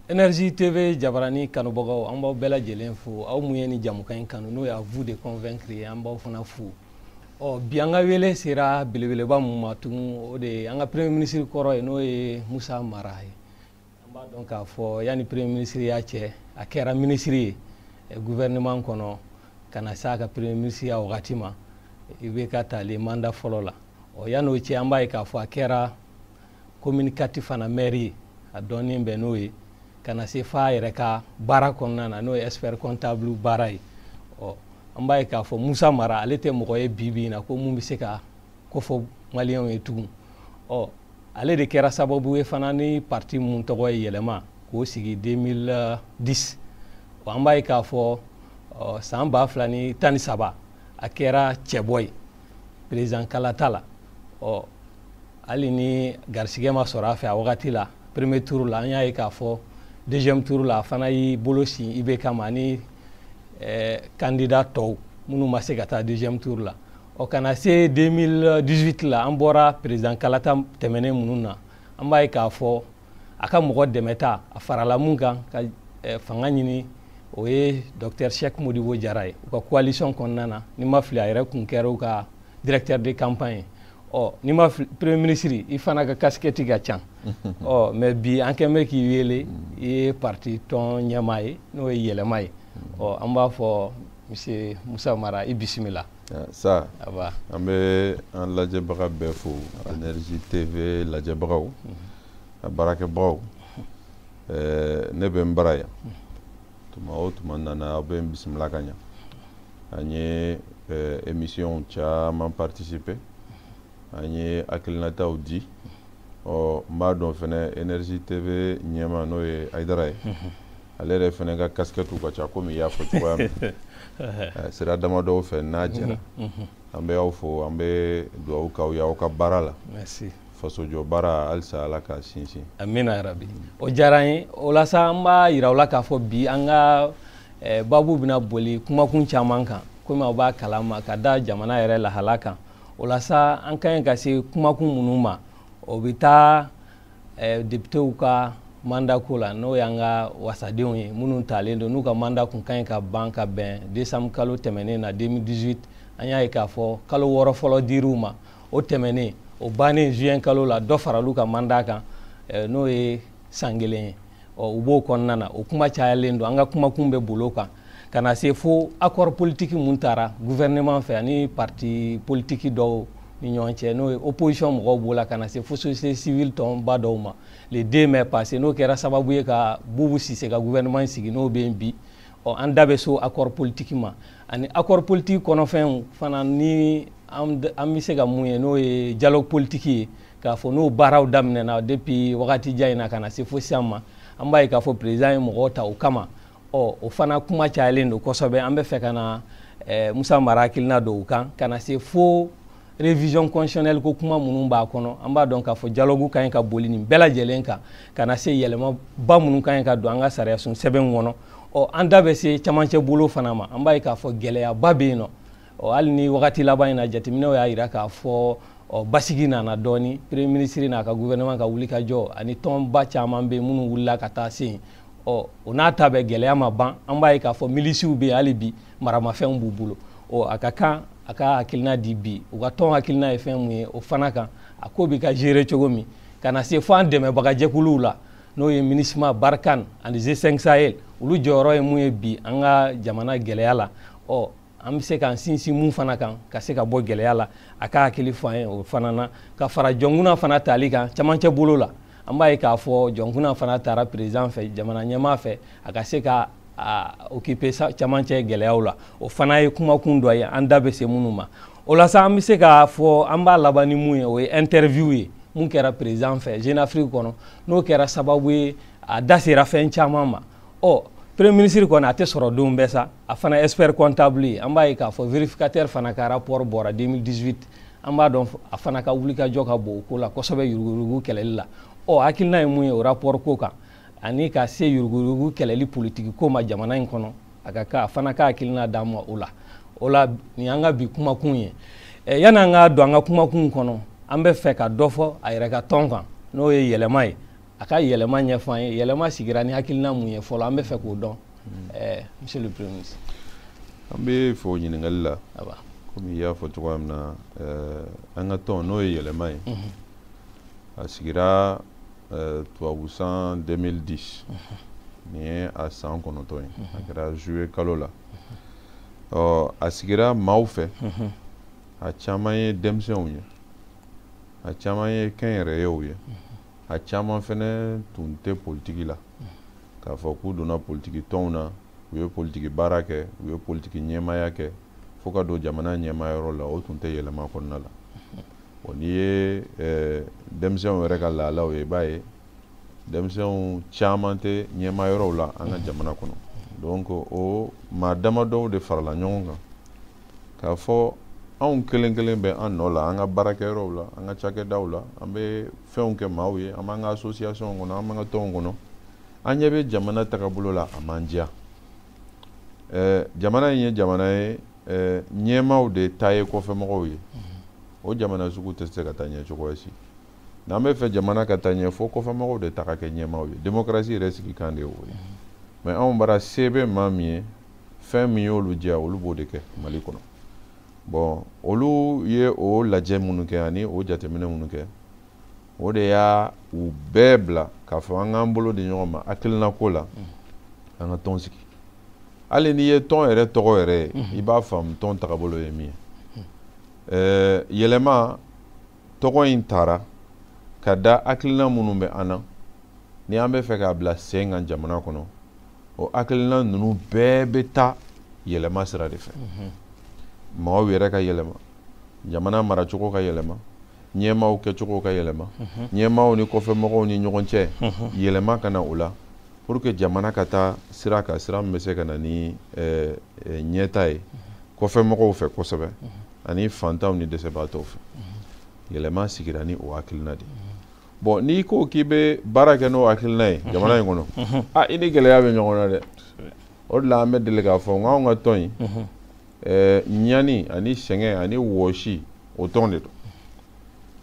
Energie TV Jabarani kanubagaw an b'aw bɛɛ lajɛlen fo aw mun ye ni jamukan in kanu n'o y'à vous de convaincre ye an b'aw fana fo ɔ bi an ka wele sera belebeleba mun ma tugun o de ye an ka premier ministre kɔrɔ ye n'o ye Musa Mara ye an b'a dɔn k'a fɔ yanni premier ministre ya cɛ a kɛra ministre ye gouvernement kɔnɔ ka na s'a ka premier ministre ya wagati ma IBK talen mandat fɔlɔ la ɔ yan'o cɛ an b'a ye k'a fɔ a kɛra commune quatre fana mɛri ye a dɔnnen bɛ n'o ye ka na se f'a yɛrɛ ka baara kɔnɔna na n'o ye expert comptable baara ye ɔ an b'a ye k'a fɔ Musa Mara ale tɛ mɔgɔ ye bi bi in na ko mun bɛ se ka kofɔ maliyɛnw ye tugun ɔ ale de kɛra sababu ye fana ni parti mun tɔgɔ ye Yɛlɛma k'o sigi 2010 ɔ an b'a ye k'a fɔ ɔ san ba fila ni tan ni saba a kɛra cɛbɔ ye président kalata la ɔ hali ni garisigɛ ma sɔrɔ a fɛ a wagati la premier tour la an y'a ye k'a fɔ deuxième tour la a fana y'i bolo sin IBK ma ani eh, candidat tɔw minnu ma se ka taa deuxième tour la ɔ ka na se 2018 la an bɔra président kalata tɛmɛnen minnu na an b'a ye k'a fɔ a ka mɔgɔ dɛmɛta a farala mun kan ka eh, fanga ɲini o ye docteur Cheikh Modibo Jara ye u ka coalition kɔnɔna na ni n ma fili a yɛrɛ kun kɛra u ka directeur de campagne ɔ ni ma fili premier ministre i fana ka casquette ka ca ɔ mais bi an kɛn bɛ k'i wele i ye parti tɔn ɲɛmaa ye n'o ye Yɛlɛma ye ɔ an b'a fɔ Monsieur Moussa Mara i bisimila. Ah, saha an bɛ an lajɛbaga bɛɛ fo Energie TV lajɛbagaw mhm. a baarakɛbagaw ɛɛ ne bɛ n bara yan mhm. tuma o tuma n nana aw bɛ n bisimila ka ɲa an ye émission caman participer an ye hakilinataw di ɔ n b'a dɔn fɛnɛ Energie TV ɲɛmaa n'o ye Ayidara ye ale yɛrɛ fɛnɛ ka kasikɛtiw ka ca komi i y'a fɔ cogoya min eh, sira damadɔw fɛ n'a jɛra an bɛ aw fo an bɛ dugawu k'aw ye aw ka baara la fasojɔ baara halisa Ala k'a sinsin amina yarabi o diyara an ye o la sa an b'a yira aw la k'a fɔ bi an ka eh, babu bɛna boli kumakun caman kan komi aw b'a kalama ka da jamana yɛrɛ lahala kan o la sa an ka ɲi ka se kumakun minnu ma o bɛ taa eh, depitew ka manda ko la n'o y'an ka wasadenw ye minnu talen don n'u ka manda kun ka ɲi ka ban ka bɛn desanbu kalo tɛmɛnen na 2018 an y'a ye k'a fɔ kalo wɔɔrɔ fɔlɔ dir'u ma o tɛmɛnen o bannen juin kalo la dɔ faral'u ka manda kan eh, n'o ye san kelen ye ɔ u b'o kɔnɔna na o kuma cayalen don an ka kumakun bɛ bol'o kan ka na se fo accord politique mun taara gouvernement fɛ ani parti politique dɔw ni ɲɔgɔn cɛ n'o ye opposition mɔgɔw b'o la ka na se fo société civile tɔnba dɔw ma le 2 mai passé n'o kɛra sababu ye ka bubu sise ka gouvernement sigi n'o bɛ yen bi ɔ an da bɛ s'o accord politique ma ani accord politique kɔnɔfɛnw fana ni an bɛ se ka mun ye n'o ye dialogue politique ye k'a fɔ n'o baaraw daminɛna depuis wagati jan in na ka na se fo sisan ma an b'a ye k'a fɔ président ye mɔgɔw ta o kama ɔ o fana kuma cayalen don kosɛbɛ an bɛ fɛ ka na eh, musa mara hakilina dɔn o kan ka na se fo révision constitutionnelle ko kuma minnu b'a kɔnɔ an b'a dɔn k'a fɔ dialogue ka ɲi ka boli nin bɛɛ lajɛlen kan ka na se yɛlɛmaba minnu ka ɲi ka don an ka sariyasun sɛbɛn kɔnɔ ɔ an da bɛ se camancɛ bolo fana ma an b'a ye k'a fɔ gɛlɛyaba bɛ yen nɔ ɔ hali ni wagati laban in na jateminɛw y'a jira k'a fɔ ɔ basigi nana dɔɔni premier ministre n'a ka gouvernement ka wulikajɔ ani tɔnba caman bɛ yen minnu wulila ka taa se yen ɔ o n'a ta bɛɛ gɛlɛya ma ban an b'a ye k'a fɔ milisiw bɛ yen hali bi maramafɛnw b'u bolo ɔ a ka kan a ka hakilina di bi u ka tɔn hakilina ye fɛn mun ye o fana kan a ko bɛ ka gérer cogo min ka na se fo an dɛmɛbagajɛkuluw la n'o ye minusma barkhane ani g5 sahel olu jɔyɔrɔ ye mun ye bi an ka jamana gɛlɛya la ɔ an bɛ se k'an sinsin mun fana kan ka se ka bɔ gɛlɛya la a ka hakili fɔ an ye o fana na ka fara jɔnkuna fana tali kan camancɛ bolo la an b'a ye k'a fɔ jɔnkuna fana taara président fɛ jamana ɲɛmaa fɛ a ka se ka occuper camancɛ gɛlɛyaw la o fana ye kumakun dɔ ye an da bɛ se minnu ma o la sa an bɛ se k'a fɔ an b'a laban ni mun ye o ye interview ye mun kɛra président fɛ jeune afrique kɔnɔ n'o kɛra sababu ye a da sera fɛn caman ma ɔ premier ministre kɔni a tɛ sɔrɔ don bɛɛ sa a fana expert comptable ye an b'a ye k'a fɔ vérificateur fana ka rapport bɔra 2018 an b'a dɔn a fana ka wulikajɔ ka bon o ko la kosɛbɛ yuruguyurugu kɛlɛli la ɔ hakilina ye mun ye o rapport ko kan ani ka se yuruguyurugu kɛlɛli politiki ko ma jamana in kɔnɔ a ka kan a fana ka hakilina d'an ma o la o la nin y'an ka bi kumakun ye eh, yan'an ka don an ka kumakun kɔnɔ an bɛ fɛ ka dɔ fɔ a yɛrɛ ka tɔn kan n'o ye yɛlɛma ye a ka yɛlɛma ɲɛfɔ an ye yɛlɛma sigira ni hakilina mun ye fɔlɔ an bɛ fɛ k'o dɔn hmm. eh, monsieur le premier ministre an b'i fo ɲininkali la komi i y'a fɔ cogoya min na eh, an ka tɔn n'o ye yɛlɛma ye mhm. a sigira eh, tubabu san 2010 mhm. nin ye a san kɔnɔntɔn ye mhm. a kɛra juillet kalo la ɔ a sigira maaw fɛ a caman ye denmisɛnw ye a caman ye kɛnyɛrɛyew ye a caman fɛnɛ tun tɛ politiki la k'a fɔ k'u donna politiki tɔnw na u ye politiki baara kɛ u ye politiki ɲɛmaaya kɛ fo ka don jamana ɲɛmayɔrɔ la o tun tɛ yɛlɛma kɔnɔna la o n'i ye eh, denmisɛnw yɛrɛ ka lahalaw ye i b'a ye denmisɛnw caman tɛ ɲɛmayɔrɔw la an ka jamana kɔnɔ donc o maa damadɔw de farala ɲɔgɔn kan k'a fɔ anw kelen kelen bɛ an nɔ la an ka baarakɛyɔrɔw la an ka cakɛdaw la an bɛ fɛnw kɛ maaw ye an b'an ka association kɔnɔ an b'an ka tɔnw kɔnɔ an ɲɛ bɛ jamana tagabolo la a m'an diya ɛɛ jamana in ye jamana ye ɛɛ ɲɛmaaw de ta ye kɔfɛmɔgɔw ye o jamana sugu tɛ se ka taa ɲɛ cogo si n'an b'a fɛ jamana ka taa ɲɛ fo kɔfɛmɔgɔw de ta ka kɛ ɲɛmaaw ye démocratie yɛrɛ sigikan de ye o ye mais anw bara se bɛ maa min ye fɛn min y'olu diya olu b'o de kɛ mali kɔnɔ bon olu ye o lajɛ minnu kɛ ani o jateminɛ minnu kɛ o de y'anw bɛɛ bila k'a fɔ an k'an bolo di ɲɔgɔn ma hakilinako la an ka tɔn sigi hali n'i ye tɔn yɛrɛ tɔgɔ yɛrɛ ye i b'a faamu tɔn tagabolo ye min ye yɛlɛma tɔgɔ in tara ka da hakilina minnu bɛ an na ni an b'a fɛ k'a bila sen kan jamana kɔnɔ o hakilina ninnu bɛɛ bɛ taa yɛlɛma sira de fɛ mhm. maaw yɛrɛ ka yɛlɛma jamana maracogo ka yɛlɛma ɲɛmaaw kɛcogo ka yɛlɛma mhm. ɲɛmaaw ni kɔfɛmɔgɔw ni ɲɔgɔn cɛ mhm. yɛlɛma ka na o la pour que jamana ka taa sira kan sira min bɛ se ka na ni eh, eh, ɲɛtaa ye kɔfɛmɔgɔw fɛ kosɛbɛ ani fantanw ni dɛsɛbaatɔw fɛ yɛlɛma sigira ni o hakilina de bon n'i ko k'i bɛ baara kɛ n'o hakilina ye jamana in kɔnɔ a i ni gɛlɛya bɛ ɲɔgɔn na dɛ o de la an bɛ deli k'a fɔ n k'anw ka tɔn in ɲani ani sɛgɛn ani wɔsi o tɔn de don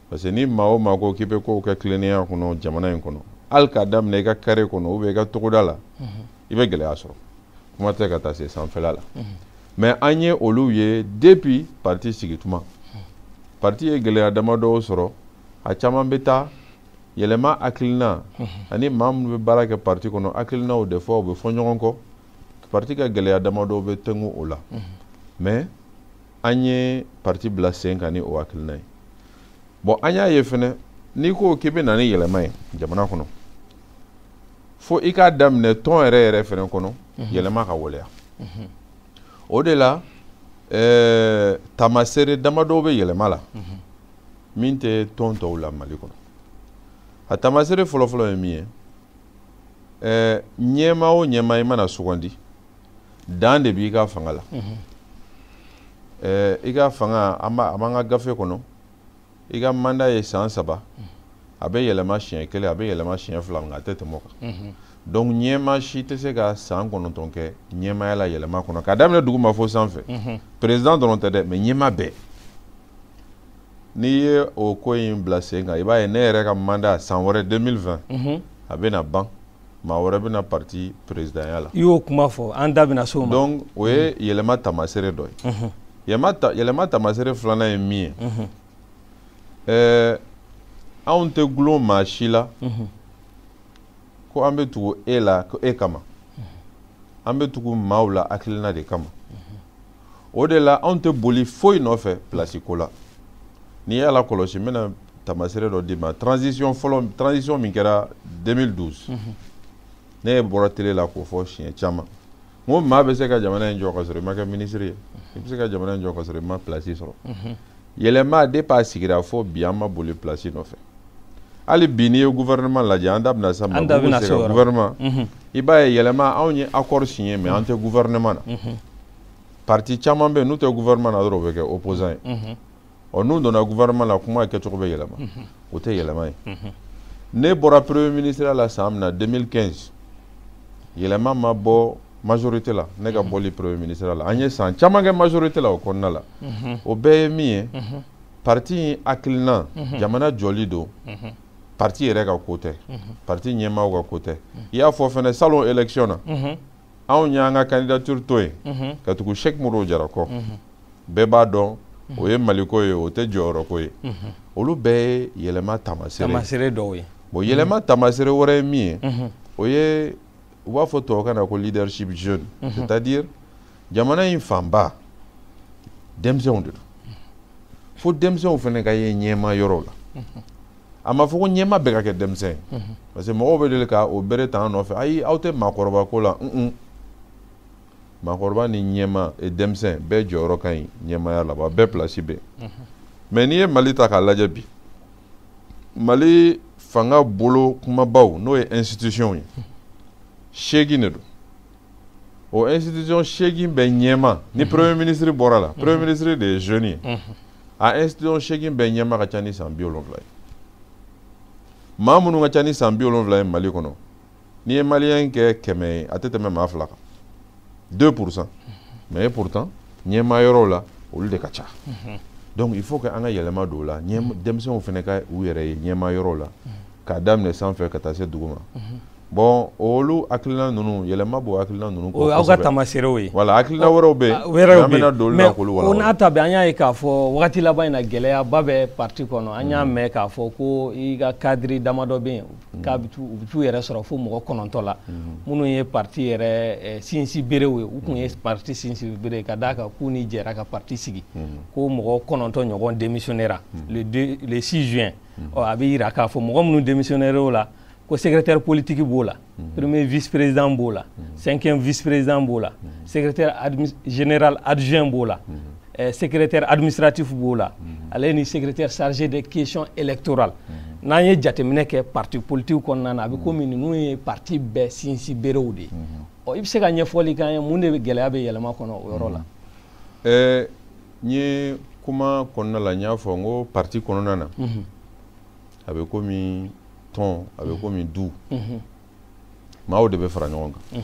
parce que ni maa o maa ko k'i bɛ kow kɛ tilennenya kɔnɔ jamana in kɔnɔ hali k'a daminɛ i ka kare kɔnɔ ou bien i ka togoda la i bɛ gɛlɛya sɔrɔ kuma tɛ ka taa se sanfɛla la mais an ye olu ye depuis parti sigi tuma parti ye gɛlɛya damadɔw sɔrɔ a caman bɛ taa yɛlɛma hakilina ani maa minnu bɛ baara kɛ parti kɔnɔ hakilinaw de fɔ u bɛ fɔ ɲɔgɔn kɔ parti ka gɛlɛya damadɔw bɛ tɛngu o la mais an ye parti bila sen kan ni o hakilina ye bon an y'a ye fɛnɛ n'i ko k'i bɛ na ni yɛlɛma ye jamana kɔnɔ fo i k'a daminɛ tɔn yɛrɛ yɛrɛ fɛnɛ kɔnɔ mhm. yɛlɛma ka waleya mhm. o de la ɛɛ taamasere damadɔw bɛ yɛlɛma la mhm. min tɛ tɔn tɔw la mali kɔnɔ a taamasere fɔlɔfɔlɔ ye min ye ɛɛ ɲɛmaa o ɲɛmaa i mana sugandi dan de b'i ka fanga la ɛɛ i ka fanga a b'an ka gafe kɔnɔ i ka mandat ye san saba a bɛ yɛlɛma siɲɛ kelen a bɛ yɛlɛma siɲɛ fila nka a tɛ tɛmɛ o kan donc ɲɛma si tɛ se ka san kɔnɔntɔn kɛ ɲɛmaya la yɛlɛma kɔnɔ k'a daminɛ duguma fo sanfɛ président dɔrɔn tɛ dɛ mais ɲɛma bɛɛ n'i ye o ko in bila sen kan i b'a ye ne yɛrɛ ka mandat san wɛrɛ 2020 a bɛna ban maa wɛrɛ bɛ na parti présidentya la i y'o kuma fɔ an da bɛna s'o ma donc o ye yɛlɛma tamasere dɔ ye yɛlɛma tamasere filanan ye min ye ɛɛ anw tɛ gulon maa si la ko an bɛ tugu e la ko e kama an bɛ tugu maaw la hakilina de kama o de la anw tɛ boli foyi nɔfɛ pilasi ko la n'i y'a lakɔlɔsi n bɛna tamasere dɔ d'i ma transition fɔlɔ transition min kɛra 2012 mhm. ne ye bɔra tele la k'o fɔ siɲɛ caman n ko maa bɛ se ka jamana in jɔ ka sɔrɔ i ma kɛ minisiri ye i bɛ se ka jamana in jɔ ka sɔrɔ i ma pilasi sɔrɔ mhm. yɛlɛma depuis a sigira fo bi an ma boli plasi nɔfɛ hali bi n'i ye gouvernement lajɛ an da bɛna s'a ma gouvernement mhm. i b'a ye yɛlɛma anw ye accord signé mais an tɛ gouvernement na mhm. parti caman bɛ yen n'u tɛ gouvernement na dɔrɔn o bɛ kɛ opposant ye mhm. ɔ n'u donna gouvernement la kuma kɛcogo bɛ yɛlɛma o tɛ yɛlɛma ye ne bɔra premier ministre la san min na 2015 yɛlɛma ma bɔ majorité la ne ka mhm. bɔli premier ministre la an ye san caman kɛ majorité la o kɔnɔna la mhm. o bɛɛ ye min ye mhm. parti in hakilina jamana jɔli don parti yɛrɛ ka ko tɛ parti ɲɛmaaw ka ko tɛ i y'a fɔ fɛnɛ salon élection na anw y'an ka candidature to yen ka tugu Cheick Modibo Jara kɔ bɛɛ b'a dɔn o ye maliko ye o tɛ jɔyɔrɔko ye olu bɛɛ ye yɛlɛma tamasere dɔw ye bon yɛlɛma tamasere wɛrɛ ye min ye o ye u b'a fɔ tubabukan na ko leadership jeune mhm. c'est à dire jamana in fanba denmisɛnw de don fo denmisɛnw fɛnɛ ka ye ɲɛma yɔrɔ la mhm. a ma fɔ ko ɲɛma bɛɛ ka kɛ denmisɛn ye mhm. parce que mɔgɔw bɛ deli ka o bere ta an nɔfɛ ayi aw tɛ maakɔrɔba ko la un maakɔrɔba ni ɲɛma e denmisɛn bɛɛ jɔyɔrɔ ka ɲi ɲɛmaya la wa bɛɛ pilasi bɛ mais n'i ye mali ta k'a lajɛ bi mali fanga bolo kumabaw n'o ye institution ye seegin de don o institution seegin bɛɛ ɲɛma ni mhm. premier ministre bɔra la mhm. premier ministre de ye jeune ye mhm. a institution seegin bɛɛ ɲɛma ka ca ni san bi wolonwula ye maa minnu ka ca ni san bi wolonwula ye mali kɔnɔ n'i ye maliyɛn kɛ kɛmɛ ye a tɛ tɛmɛ maa fila kan deux pour cent mais pourtant ɲɛmaa yɔrɔw la olu de ka ca donc il faut que an ka yɛlɛma don o la denmisɛnw fana ka u yɛrɛ ye ɲɛmaa yɔrɔw la k'a daminɛ sanfɛ ka taa se duguma bon olu hakilina ninnu yɛlɛma b'o hakilina ninnu o y'aw ka tamaseerew ye voilà hakilina wɛrɛw bɛ yen an bɛna don olu la k'olu wala o n'a ta bɛɛ an y'a ye k'a fɔ wagati laban in na gɛlɛyaba bɛ parti kɔnɔ an y'a mɛn k'a fɔ ko i ka cadre damadɔ bɛ yen mm. k'a bɛ u bɛ t'u yɛrɛ sɔrɔ fo mɔgɔ kɔnɔntɔ la mm. minnu ye parti yɛrɛ eh, sinsin berew ye u tun ye mm. parti sinsin bere ka d'a kan k'u ni jɛra ka parti sigi ko mɔgɔ kɔnɔntɔ ɲɔgɔn démissionnera le 6 juin ɔ a bɛ yira k'a fɔ mɔgɔ minnu démissionnera o la ko secrétaire politique b'o la premier vice président b'o la cinquième vice président b'o la secrétaire général adjoint b'o la eh, secrétaire administratif b'o la mhm. ale ni secrétaire chargé des questions électorales mhm. n'an ye jateminɛ kɛ parti politique kɔnɔna na a bɛ komi ninnu ye parti bɛɛ sinsin berew de ye ɔ i bɛ se ka ɲɛfɔli k'an ye mun de gɛlɛya bɛ yɛlɛma kɔnɔ o yɔrɔ la. ɛɛ n ye kuma kɔnɔna la n y'a fɔ n ko parti kɔnɔna na a bɛ komi tɔn a bɛ komi du maaw de bɛ fara ɲɔgɔn kan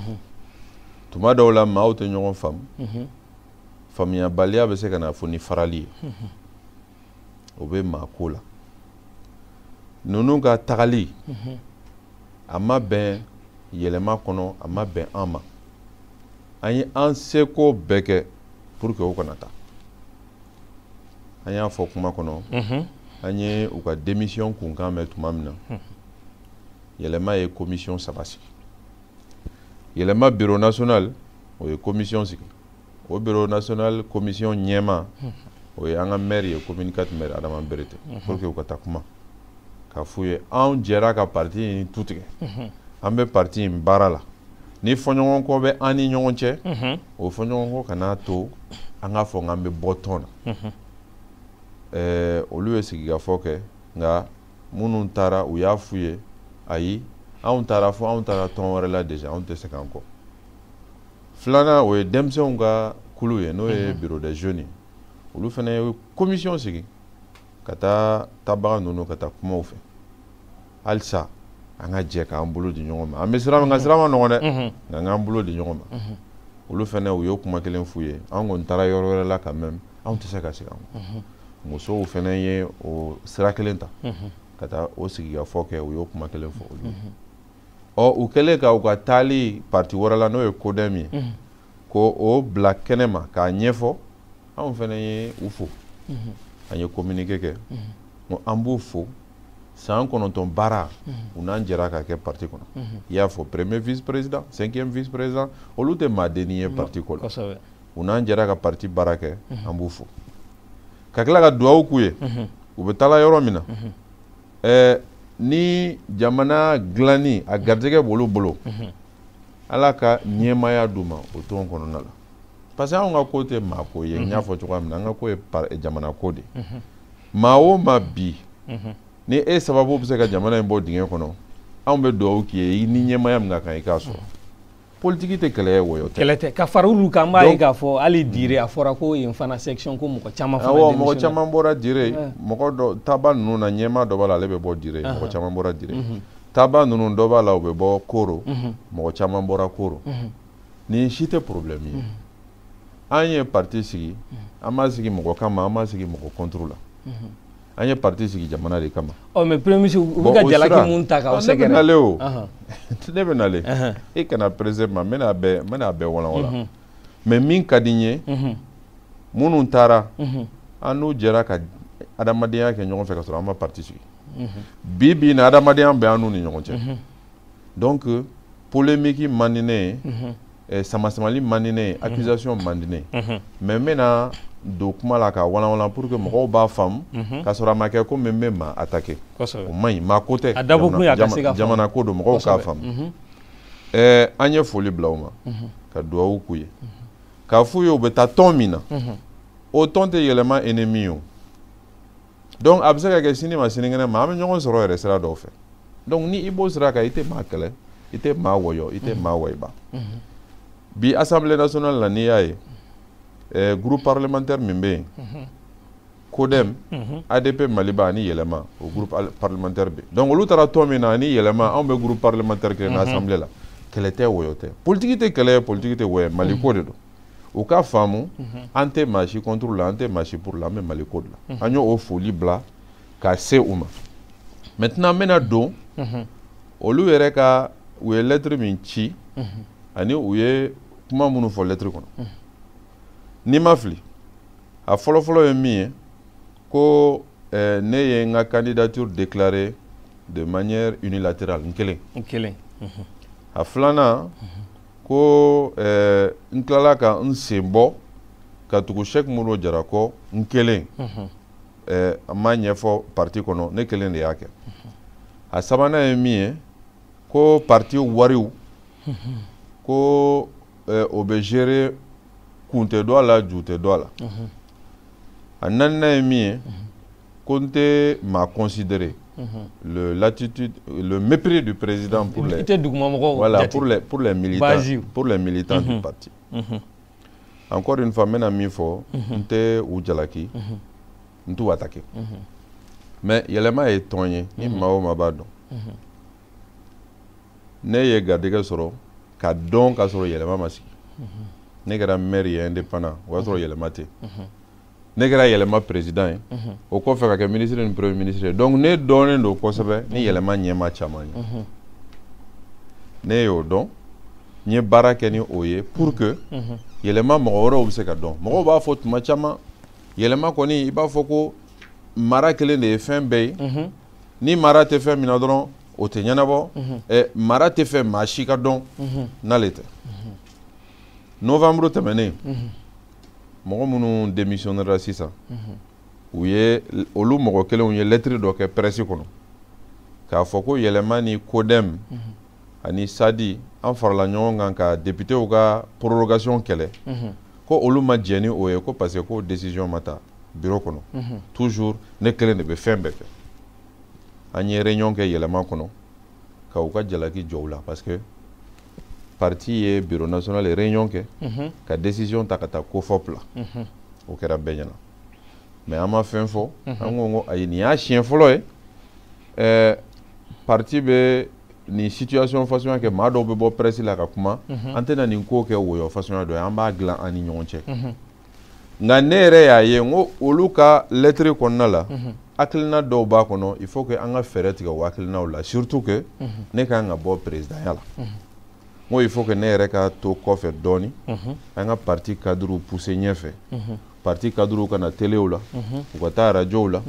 tuma dɔw la maaw tɛ ɲɔgɔn faamu. faamuyabaliya bɛ se ka na fo ni farali ye o bɛ maa ko la ninnu ka tagali a ma bɛn yɛlɛma kɔnɔ a ma bɛn an ma an ye an seko bɛɛ kɛ pour que o kana taa an y'a fɔ kuma kɔnɔ an ye u ka démission kunkan mɛn tuma min na yɛlɛma ye commission saba sigi yɛlɛma bureau national o ye commission sigi o bureau national commission ɲɛmaa o ye an ka maire ye commune 4 maire adama berete pour que u ka taa kuma k'a f'u ye anw jɛra ka parti in tu tigɛ an bɛ parti in baara la ni fɔɲɔgɔnkɔ bɛ an ni ɲɔgɔn cɛ o fɔɲɔgɔnkɔ kana to an k'a fɔ n k'an bɛ bɔ tɔn na olu ye sigikafɔ kɛ nka minnu taara u y'a f'u ye ayi anw taara fo anw taara tɔn wɛrɛ la déjà anw tɛ se k'an kɔ filanan o ye denmisɛnw ka kulu ye n'o ye mhm. bureau des jeunes olu fana ye commission sigi ka taa taabaga ninnu ka taa kuma u fɛ halisa an ka jɛ k'an bolo di ɲɔgɔn ma an bɛ sira min kan sira man nɔgɔn dɛ mhm. nka an k'an bolo di ɲɔgɔn ma mhm. olu fana u y'o kuma kelen f'u ye an kɔni taara yɔrɔ wɛrɛ la ka mɛn anw tɛ se ka segin an kɔ mhm. musow fana ye o sira kelen ta mhm. ka taa o sigikafɔ kɛ u y'o kuma kelen fɔ olu mhm. ɔ u kɛlen ka u ka taali parti wɛrɛ la n'o ye kodɛm ye ko o bila kɛnɛ ma k'a ɲɛfɔ anw fana ye u fo an ye communiqué kɛ ko an b'u fo san kɔnɔntɔn baara u n'an jɛra ka kɛ parti kɔnɔ i y'a fɔ premier vice président cinquième vice président olu tɛ maadenni ye parti ko la u n'an jɛra ka parti baara kɛ an b'u fo ka tila ka duwawu k'u ye u bɛ taala yɔrɔ min na ɛɛ ni jamana dilanni a garijɛgɛ b'olu bolo ala ka ɲɛmaaya d'u ma o tɔn kɔnɔna la parce que anw ka ko tɛ maa ko ye n y'a fɔ cogoya min na an ka ko ye jamana ko de ye maa o maa bi ni e sababu bɛ se ka jamana in bɔ dingɛ kɔnɔ anw bɛ duwawu k'i ye i ni ɲɛmaaya min ka kan i k'a sɔrɔ politiki tɛ kɛlɛ ye wɔyɔ tɛ kɛlɛ tɛ ka fara olu kan n b'a ye k'a fɔ hali dire a fɔra ko yen fana section ko mɔgɔ caman fana démissionné awɔ mɔgɔ caman bɔra dire eh. mɔgɔ dɔ taaba ninnu na ɲɛmaa dɔ b'a la ale bɛ bɔ dire mɔgɔ caman bɔra dire mhm. taaba ninnu dɔ b'a la u bɛ bɔ koro mhm. mɔgɔ caman bɔra koro mhm. nin si tɛ problème ye an ye parti sigi an m'a sigi mɔgɔ kama an m'a sigi mɔgɔ contre la an ye parti sigi jamana de kama ɔ mais premier ministre u bɛ ka jalaki mun ta k'aw sɛgɛrɛ ne bɛ nale o ne bɛ nale e kana perese ma n bɛna bɛɛ n bɛna bɛɛ walanwalan mhm. mais min ka di n ye mhm. minnu taara mhm. an n'u jɛra ka adamadenya kɛ ɲɔgɔn fɛ ka sɔrɔ an ma parti sigi bi bi in na adamadenya bɛ an n'u ni ɲɔgɔn cɛ donc polemiki man di ne ye mhm. eh, samasamali man di ne ye mhm. accusation man di ne ye mais n bɛna don kuma la k'a walanwalan pour que mɔgɔw b'a faamu ka sɔrɔ a ma kɛ komi n bɛ maa attaquer o man ɲi maa ko tɛ jamana ko don mɔgɔw k'a faamu eh, an ye foli bila u ma ka duwawu k'u ye k'a f'u ye u bɛ taa tɔn min na o tɔn tɛ yɛlɛma ennemi ye o donc a bɛ se ka kɛ sini ma sinikɛnɛ ma an bɛ ɲɔgɔn sɔrɔ yɛrɛ sira dɔw fɛ donc ni i b'o sira kan i tɛ maa kɛlɛ i tɛ maa wɔyɔ i tɛ maa wɔyiba bi assemblée nationale la n'i y'a ye eh, groupe parlementaire min bɛ yen kodɛm adp maliba ani yɛlɛma o groupe parlementaire bɛ donc olu taara tɔn min na ani yɛlɛma anw bɛ groupe parlementaire kelen na assemblée la kɛlɛ tɛ wɔyɔ tɛ politiki tɛ kɛlɛ ye politiki tɛ wɔyɔ ye maliko de don u k'a faamu mhm. an tɛ maa si contre la an tɛ maa si pour la an bɛ mali ko de la mhm. an y'o foli bila ka se u ma maintenant n bɛna don mhm. olu yɛrɛ ka u ye lɛtiri min ci ani u ye kuma minnu fɔ lɛtiri kɔnɔ ni n ma fili a fɔlɔfɔlɔ ye min ye ko eh, ne ye n ka candidature déclarée de manière unilatérale n kelen a filanan ko eh, n tilala ka n sen bɔ ka tugu Cheick Modibo Jara kɔ n kelen mhm. eh, a ma ɲɛfɔ parti kɔnɔ ne kelen de y'a kɛ mhm. a sabanan ye min ye ko parti wariw mhm. ko eh, o bɛ gérer kun tɛ dɔ a la ju tɛ dɔ a la a naaninan ye min ye ko n tɛ maa considérer mhm. le l'attitude le mépris du président pour les i tɛ duguma mɔgɔw voilà pour les pour les militants Basiw. pour les militants du mhm. parti mhm. encore une fois n bɛna min fɔ n tɛ u jalaki n t'u attaquer mais yɛlɛma ye tɔn ye ni maa o maa b'a dɔn ne ye garijɛgɛ sɔrɔ ka dɔn ka sɔrɔ yɛlɛma ma sigi ne kɛra maire ye indépendant o y'a sɔrɔ yɛlɛma tɛ ne kɛra yɛlɛma président ye mhm. o kɔfɛ ka kɛ ministre ni premier ministre ye donc ne dɔnnen don kosɛbɛ ni mhm. yɛlɛma ɲɛmaa caman ye mhm. ne y'o dɔn n ye baara kɛ ni o ye pour que yɛlɛma mɔgɔ wɛrɛw bɛ se ka dɔn mɔgɔw b'a fɔ tuma caman yɛlɛma kɔni i b'a fɔ ko mara kelen de ye fɛn bɛɛ ye ni mara tɛ fɛn min na dɔrɔn o tɛ ɲɛnabɔ ɛ mara tɛ fɛ maa si ka dɔn n'ale tɛ novembre tɛmɛnen mɔgɔ minnu démissionnera sisan u ye olu mɔgɔ kelenw ye lɛtiri dɔ kɛ presse kɔnɔ k'a fɔ ko yɛlɛma ni CODEM ani SADI an farala ɲɔgɔn kan ka depitew ka prorogation kɛlɛ ko olu ma jɛn ni o ye ko parce que ko décision ma ta biro kɔnɔ toujours ne kelen de bɛ fɛn bɛɛ kɛ an ye réunion kɛ yɛlɛma kɔnɔ ka u ka jalaki jɔ u la parce que parti ye bureau national ye réunion kɛ mhm. ka décision ta ka taa COFOP la mhm. o kɛra bɛɛ ɲɛna mais an ma fɛn fɔ mhm. an ko ko ayi nin y'a siɲɛ fɔlɔ ye ɛɛ parti bɛ nin situation fasuguya kɛ maa dɔw bɛ bɔ presse la ka kuma an tɛna nin ko kɛ woyɔ fasuguya dɔ ye an b'a dilan an ni ɲɔgɔn cɛ nka ne yɛrɛ y'a ye n ko olu ka lɛtiri kɔnɔna la mhm. hakilina dɔw b'a kɔnɔ il faut que an ka fɛɛrɛ tigɛ o hakilinaw la surtout que mhm. ne ka kan ka bɔ présidentya la mhm. n ko il faut que ne yɛrɛ ka to kɔfɛ dɔɔni an ka parti cadrew pousser ɲɛfɛ parti cadrew ka na telew la u ka taa radiow la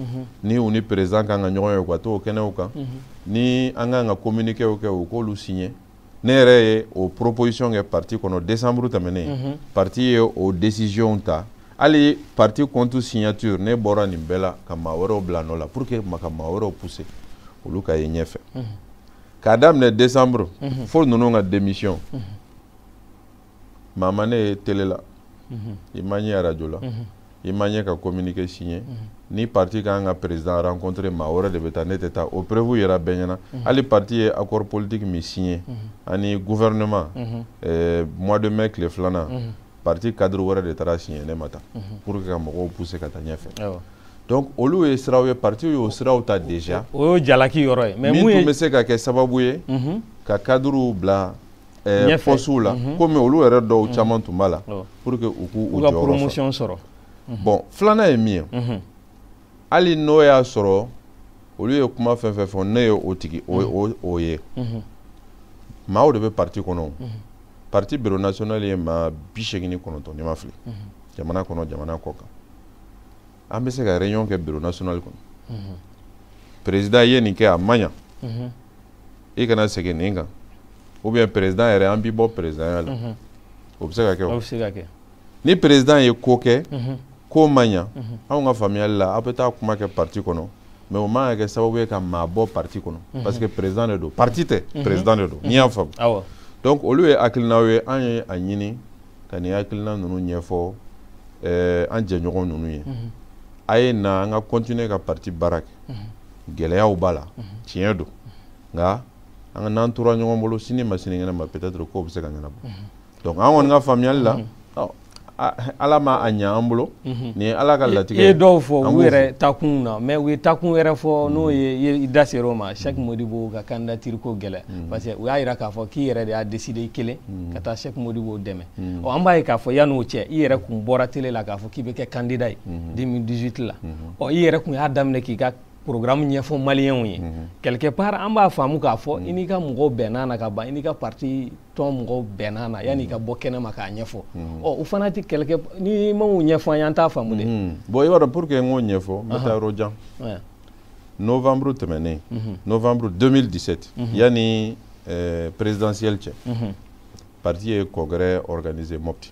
ni u ni président ka kan ka ɲɔgɔn ye u ka t'o kɛnɛw kan ni an ka kan ka communiquéw kɛ u k'olu signer ne yɛrɛ ye o proposition kɛ parti kɔnɔ décembre tɛmɛnen mhm. parti ye o décision ta hali parti compte signature ne bɔra nin bɛɛ la ka maa wɛrɛw bila nɔ la pour que an ka maa wɛrɛw pousser olu ka ye ɲɛfɛ mhm. k'a daminɛ décembre mhm. fo ninnu ka démission maa ma ne ye télé la mhm. i ma n ye radio la mhm. i ma n ye ka communiqué signé mhm. ni parti ka kan ka président rencontré maa wɛrɛ de bɛ taa ne tɛ taa o preuve yɛrɛ bɛɛ ɲɛna hali parti ye accord politique min signé ani gouvernement eh, mois de mai tile filanan parti cadre wɛrɛ de taara signé ne ma taa pour que ka mɔgɔw pousser ka taa ɲɛfɛ donc olu ye siraw ye parti y'o siraw ta déjà o y'o jalaki yɔrɔ ye min tun bɛ se ka kɛ sababu ye ka cadrew bila postew la mhm. komi olu yɛrɛ dɔw mhm. caman tun b'a la pour que u k'u u jɔyɔrɔ sɔrɔ mhm. bon filanan ye min ye hali n'o y'a sɔrɔ olu ye kuma fɛn fɛn fɔ ne ye o tigi o ye maaw de bɛ parti kɔnɔ parti bureau national ye maa bi seegin ni kɔnɔntɔn ni n ma fili jamana kɔnɔ jamana kɔkan an bɛ se ka réunion kɛ bureau national kɔnɔ président ye nin kɛ a ma ɲa i kana segin nin kan ou bien président yɛrɛ an b'i bɔ présidenya la mhm. o bɛ se ka kɛ o bɛ se ka kɛ ni président ye ko kɛ mhm. k'o ma ɲa mhm. anw ka faamuyali la aw bɛ taa kuma kɛ parti kɔnɔ mais o man ka kɛ sababu ye ka maa bɔ parti kɔnɔ parce que président de don parti tɛ président de don n'i y'a faamu donc olu ye hakilinaw ye an ye a ɲini ka nin hakilina ninnu ɲɛfɔ eh, an jɛɲɔgɔn ninnu ye a ye na an ka continuer ka parti baara kɛ gɛlɛyaw b'a la tiɲɛ don nka an ka n'an tora ɲɔgɔn bolo sini ma sinikɛnɛ ma peut-être kow bɛ se ka ɲɛnabɔ donc an kɔni ka faamuyali la ala ma a ɲɛ an bolo mhm. nin ye ala ka latigɛ ye dɔw fɔ u yɛrɛ taakun na mais u ye taakun wɛrɛ fɔ n'o ye i da ser'o ma Cheikh Modibo ka candidature ko gɛlɛ mhm. parce que u y'a jira k'a fɔ k'i yɛrɛ de y'a décider i kelen mhm. ka taa Cheikh Modibo dɛmɛ ɔ an b'a ye k'a fɔ yan'o cɛ i yɛrɛ kun bɔra télé la k'a fɔ k'i bɛ kɛ candidat ye 2018 la ɔ i yɛrɛ kun y'a daminɛ k'i ka programme ɲɛfɔ maliyɛnw ye mhm. quelque part an b'a faamu k'a fɔ mhm. i n'i ka mɔgɔw bɛnn'a na ka ban i n'i ka parti tɔn mɔgɔw bɛnn'a na yan'i ka mhm. bɔ kɛnɛ ma k'a ɲɛfɔ ɔ u fana tɛ quelque n'i m'o ɲɛfɔ an ye an t'a faamu dɛ bon i b'a dɔn pour que n k'o ɲɛfɔ n bɛ taa yɔrɔ jan novembre tɛmɛnen novembre 2017 yanni eh, présidentielle cɛ parti ye congrès organisé Mopti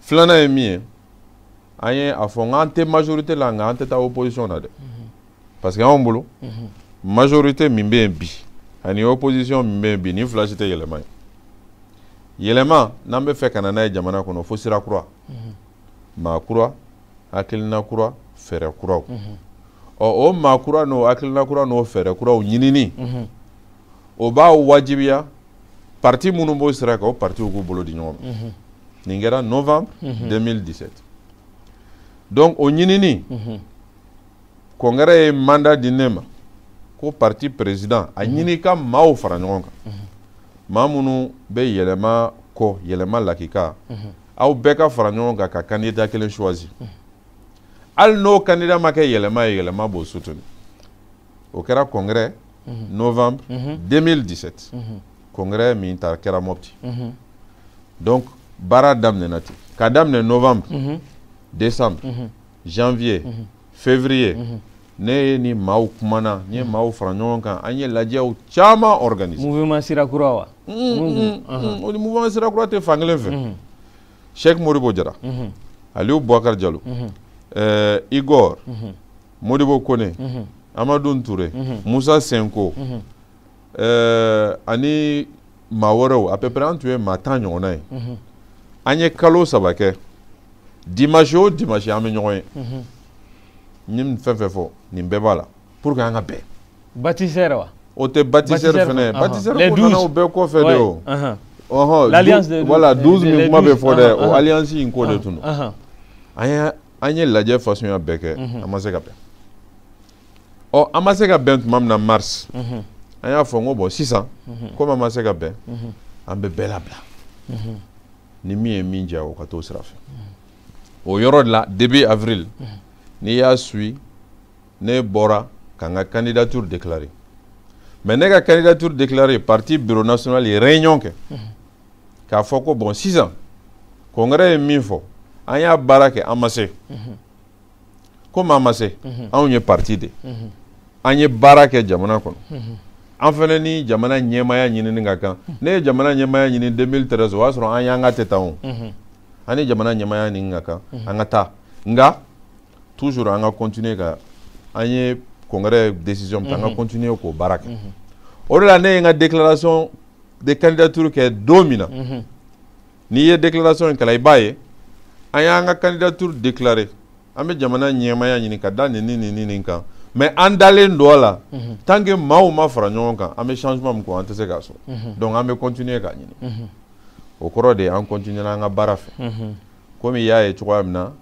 filanan ye min ye an ye a fɔ n k'an tɛ majorité la nka an tɛ taa opposition na dɛ mhm. parce que anw bolo mhm. majorité min bɛ yen bi ani opposition min bɛ yen bi nin fila si tɛ yɛlɛma ye yɛlɛma n'an bɛ fɛ ka na n'a ye jamana kɔnɔ fo sira kura mhm. maa kura hakilina kura fɛɛrɛ kuraw ɔ o maa kura n'o hakilina kura n'o fɛɛrɛ kuraw ɲinini o b'a wajibiya parti minnu b'o sira kan o partiw k'u bolo di ɲɔgɔn ma nin kɛra novembre 2017 donc o ɲinini congrès ye mandat di ne ma ko parti président a ɲini ka maaw fara ɲɔgɔn kan maa minnu bɛ yɛlɛma kɔ yɛlɛma lakika aw bɛɛ ka fara ɲɔgɔn kan ka candidat kelen choisi hali n'o candidat ma kɛ yɛlɛma ye yɛlɛma b'o soutenir o kɛra congrès novembre 2017 congrès min ta kɛra mopti donc baara daminɛna ten ka daminɛ novembre décembre janvier février ne ye ni maaw kumana n ye maaw fara ɲɔgɔn kan an ye lajɛw caman organiser mouvement sira kura wa o ni mouvement sira kura tɛ fan kelen fɛ Cheikh Modibo Jara Aliou Boubacar Diallo Igor modibo kone mhm. amadun ture mhm. musa sinko mhm. eh, ani maa wɛrɛw à peu près an tun ye maa tan ɲɔgɔnna ye an ye kalo saba kɛ dimanche o dimanche an bɛ ɲɔgɔn ye n ye nin fɛn fɛn fɔ nin bɛɛ b'a la pour que an ka bɛn bâtisseurs wa o tɛ bâtisseurs fɛnɛ bâtisseurs ko nana o bɛɛ kɔfɛ de o ɔhɔn voilà 12 min kuma bɛ fɔ dɛ o alliance in ko de tun don an ye an ye lajɛ fasɔnya bɛɛ kɛ an ma se ka bɛn ɔ an ma se ka bɛn tuma min na mars an y'a fɔ n ko bon sisan komi an ma se ka bɛn an bɛ bɛɛ labila ni min ye min diya o ka t'o sira fɛ o yɔrɔ de la début avril n'i y'a suit ne bɔra ka n ka candidature déclarer mais ne ka candidature déclarer parti bureau national ye réunion kɛ k'a fɔ ko bon sisan congrès ye min fɔ an y'a baara kɛ an ma se komi an ma se anw ye parti de an ye baara kɛ jamana kɔnɔ an fɛnɛ ni jamana ɲɛmaya ɲinini ka kan ne ye jamana ɲɛmaya ɲini 2013 o y'a sɔrɔ an fanga tɛ tan o an ni jamana ɲɛmaya ɲini ka kan an ka taa nka toujours an ka continuer ka an ye congrès décision ta an ka continuer k'o baara kɛ o de la ne ye n ka déclaration de candidature kɛ don min na mhm. n'i ye déclaration in kalan i b'a ye an y'an ka candidature déclarer an bɛ jamana ɲɛmaya ɲini ka da nin ni nin ni nin kan mais an dalen don a la mhm. tant que maaw ma fara ɲɔgɔn kan an bɛ changement min kɔ an tɛ se k'a sɔrɔ mhm. donc an bɛ continuer k'a ɲini o kɔrɔ de ye an continuela an ka baara fɛ komi i y'a ye cogoya min na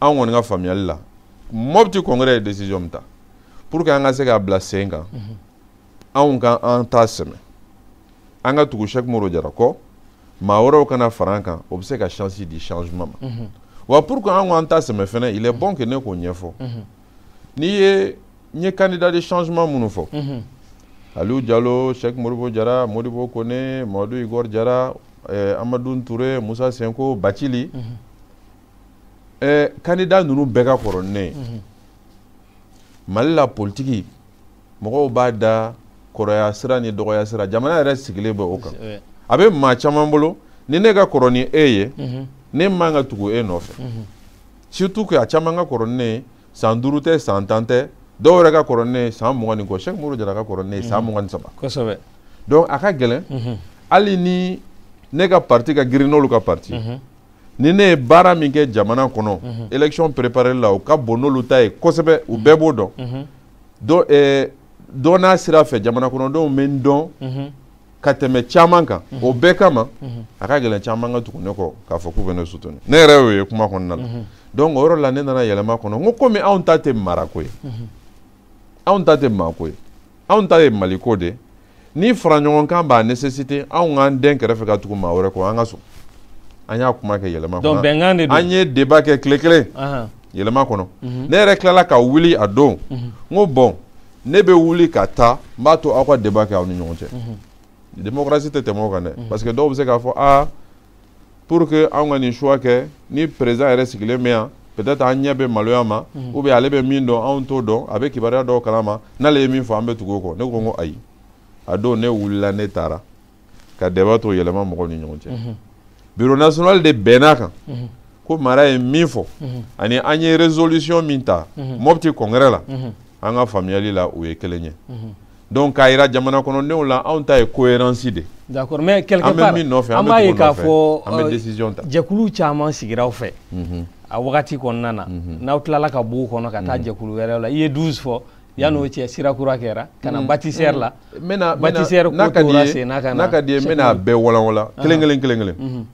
an kɔni ka faamuyali la mɔpti congrès ye décision min ta pour que an ka se k'a bila sen kan mhm. anw ka an ta sɛmɛ an ka tugu sɛki modibo jara kɔ maa wɛrɛw ka na fara an kan o bɛ se ka chance di changement ma mhm. wa pour que an k'an ta sɛmɛ fɛnɛ il est mhm. bon que ne k'o ɲɛfɔ n'i ye n ye candidat de changement minnu fɔ aliou jalo sɛki modibo jara modibo kone mamadu igor jara eh, amadoun ture musa sinko bacili ɛɛ kandida ninnu bɛɛ ka kɔrɔ ni ne ye mhm. mali la politiki mɔgɔw b'a da kɔrɔya sira ni dɔgɔya sira jamana yɛrɛ sigilen bɛ o kan a bɛ maa caman bolo ni ne ka kɔrɔ ni e ye mhm. ne man ka tugu e nɔfɛ mhm. surtout que a caman ka kɔrɔ ni ne ye san duuru tɛ san tan tɛ dɔw yɛrɛ ka kɔrɔ ni ne ye san mugan ni kɔ sɛki modibo jara ka kɔrɔ ni ne ye san mugan ni saba kosɛbɛ donc a ka gɛlɛn hali ni ne ka parti ka girin n'olu ka parti ni ne ye baara min kɛ jamana kɔnɔ élection préparer la o ka bon n'olu ta ye kosɛbɛ u bɛɛ b'o dɔn dɔ eh, dɔ n'a sira fɛ jamana kɔnɔdenw bɛ n dɔn ka tɛmɛ caman kan o bɛɛ kama a ka gɛlɛn caman ka tugu ne kɔ k'a fɔ k'u bɛ ne soutenir ne yɛrɛ y'o ye kuma kɔnɔna la donc o yɔrɔ la ne nana yɛlɛma kɔnɔ n ko komi anw ta tɛ marako ye anw ta tɛ maako ye anw ta ye maliko de ye ni faraɲɔgɔnkan b'a nécessiter anw k'an dɛn kɛrɛfɛ ka tugu maa wɛrɛ kɔ an ka sɔn an y'a kuma kɛ yɛlɛma kɔnɔ bɛnkan de don an ye débat kɛ tile kelen yɛlɛma kɔnɔ mhm. ne yɛrɛ tilala ka wuli a don mhm. n ko bon ne bɛ wuli ka taa n b'a to aw ka débat kɛ aw ni ɲɔgɔn cɛ mhm. démocratie tɛ tɛmɛ o kan dɛ parce que dɔw bɛ se k'a fɔ aa pour que anw ka nin choix kɛ ni président yɛrɛ sigilen bɛ yan peut-être an ɲɛ bɛ maloya ma mhm. ou bien ale bɛ min dɔn anw t'o dɔn a bɛ kibaruya dɔw kalama n'ale ye min fɔ an bɛ tugu o kɔ ne ko n ko ayi a don ne wulila ne taara ka débat to yɛlɛma mɔgɔw ni ɲɔgɔn cɛ mhm. bureau national de bɛnn'a kan mhm. ko mara ye min fɔ ani an ye résolution min ta mɔpti congrès la an ka faamuyali la o ye kelen ye donc k'a yira jamana kɔnɔdenw la anw ta ye cohérence de d'accord mais quelque part an bɛ min nɔfɛ an b'a ye k'a fɔ an bɛ euh, décision ta jɛkulu caman sigira aw fɛ mhm. a wagati kɔnɔna na mhm. n'aw tilala ka b'u kɔnɔ ka taa mhm. jɛkulu wɛrɛw la i ye 12 fɔ yan'o cɛ sira kura kɛra ka na bâtisseur la bâtisseur ko tora sen na ka na n'a ka d'i ye n bɛn'a bɛɛ walanwalan kelen kelen kelen kelen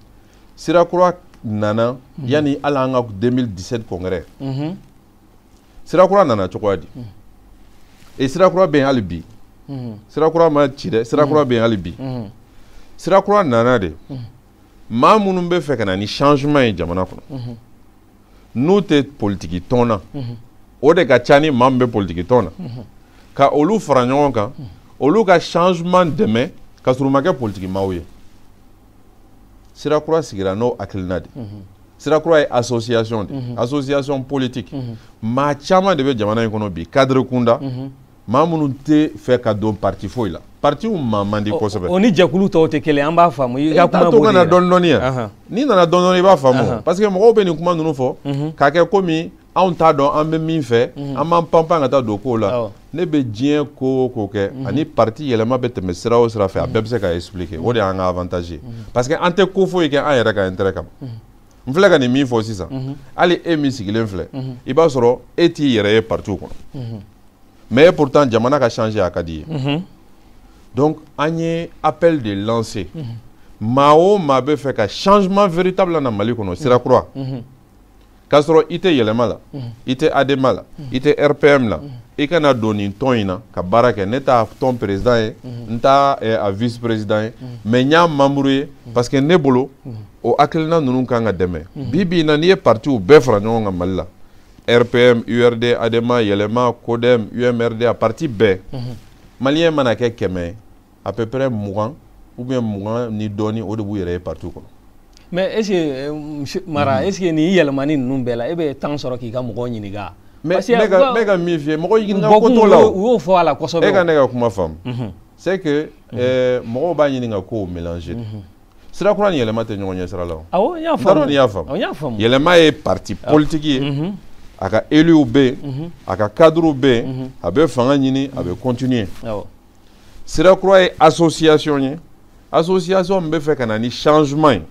sira kura nana yanni hali an ka 2017 congrès sirakura nana cogoya di e sirakura bɛ yen hali bi sirakura ma ci dɛ sirakura bɛ yen hali bi sirakura nana de maa minnu bɛ fɛ ka na ni changement ye jamana kɔnɔ n'u tɛ politiki tɔn na o de ka ca ni maa min bɛ politiki tɔn na ka olu fara ɲɔgɔn kan olu ka changement dɛmɛ ka sɔrɔ u ma kɛ politiki maaw ye sira kura sigira n'o hakilina de sira kura ye association de association politique maa caman de bɛ jamana in kɔnɔ bi cadre kunda maa minnu tɛ fɛ ka don parti foyi la partiw maa man di kosɛbɛ o ni jɛkulu tɔw tɛ kelen an b'a faamu i ka kuma b'o de la dɔɔni dɔɔni yan n'i nana dɔɔni dɔɔni i b'a faamu parce que mɔgɔw bɛ nin kuma ninnu fɔ k'a kɛ komi anw t'a dɔn an bɛ min fɛ mhm. an b'an panpan ka taa don kow la ne bɛ diɲɛ ko o ko kɛ mhm. ani parti yɛlɛma bɛ tɛmɛ sira o sira fɛ a bɛɛ bɛ se ka expliquer o de y'an ka avantage ye mhm. parce que an tɛ ko foyi kɛ an yɛrɛ ka intérêt kama n filɛ ka nin min fɔ sisan hali e min sigilen filɛ i b'a sɔrɔ e t'i yɛrɛ ye partiw kɔnɔ mais pourtant jamana ka changer a ka d'i ye donc an ye appel de lancer maa o maa bɛ fɛ ka changement véritable na mali kɔnɔ sira kura k'a sɔrɔ i tɛ yɛlɛma la i tɛ adema la i tɛ rpm la i ka na don nin tɔn in na ka baara kɛ ne t'a tɔn président ye n t'a eh, a vice président ye mais n y'a membre ye parce que ne bolo o hakilina ninnu kan ka dɛmɛ bi bi in na n'i ye partiw bɛɛ fara ɲɔgɔn kan mali la rpm urd adema yɛlɛma codem umrda parti bɛɛ malien mana kɛ kɛmɛ ye à peu près mugan ou bien mugan ni dɔɔni o de b'u yɛrɛ ye parti kɔnɔ mais est ce que monsieur mara est ce que nin yɛlɛmani ninnu bɛɛ la e bɛ temps sɔrɔ k'i ka mɔgɔw ɲininka ne ka ne ka min f'i ye mɔgɔ ɲininka ko t'o la u y'o fɔ a la kosɛbɛ e ka ne ka kuma faamu mhm. c'est que mhm. euh, mɔgɔw b'a ɲini ka kow mélanger mhm. sira kura ni yɛlɛma tɛ ɲɔgɔn ɲɛ sira la o awɔ n y'a faamu n y'a faamu n y'a faamu yɛlɛma ye parti politique ye a ka éluw bɛ yen a ka cadrew bɛ yen a bɛ fanga ɲini a bɛ continuer awɔ sira kura ye association ye association min bɛ fɛ ka na ni changement ye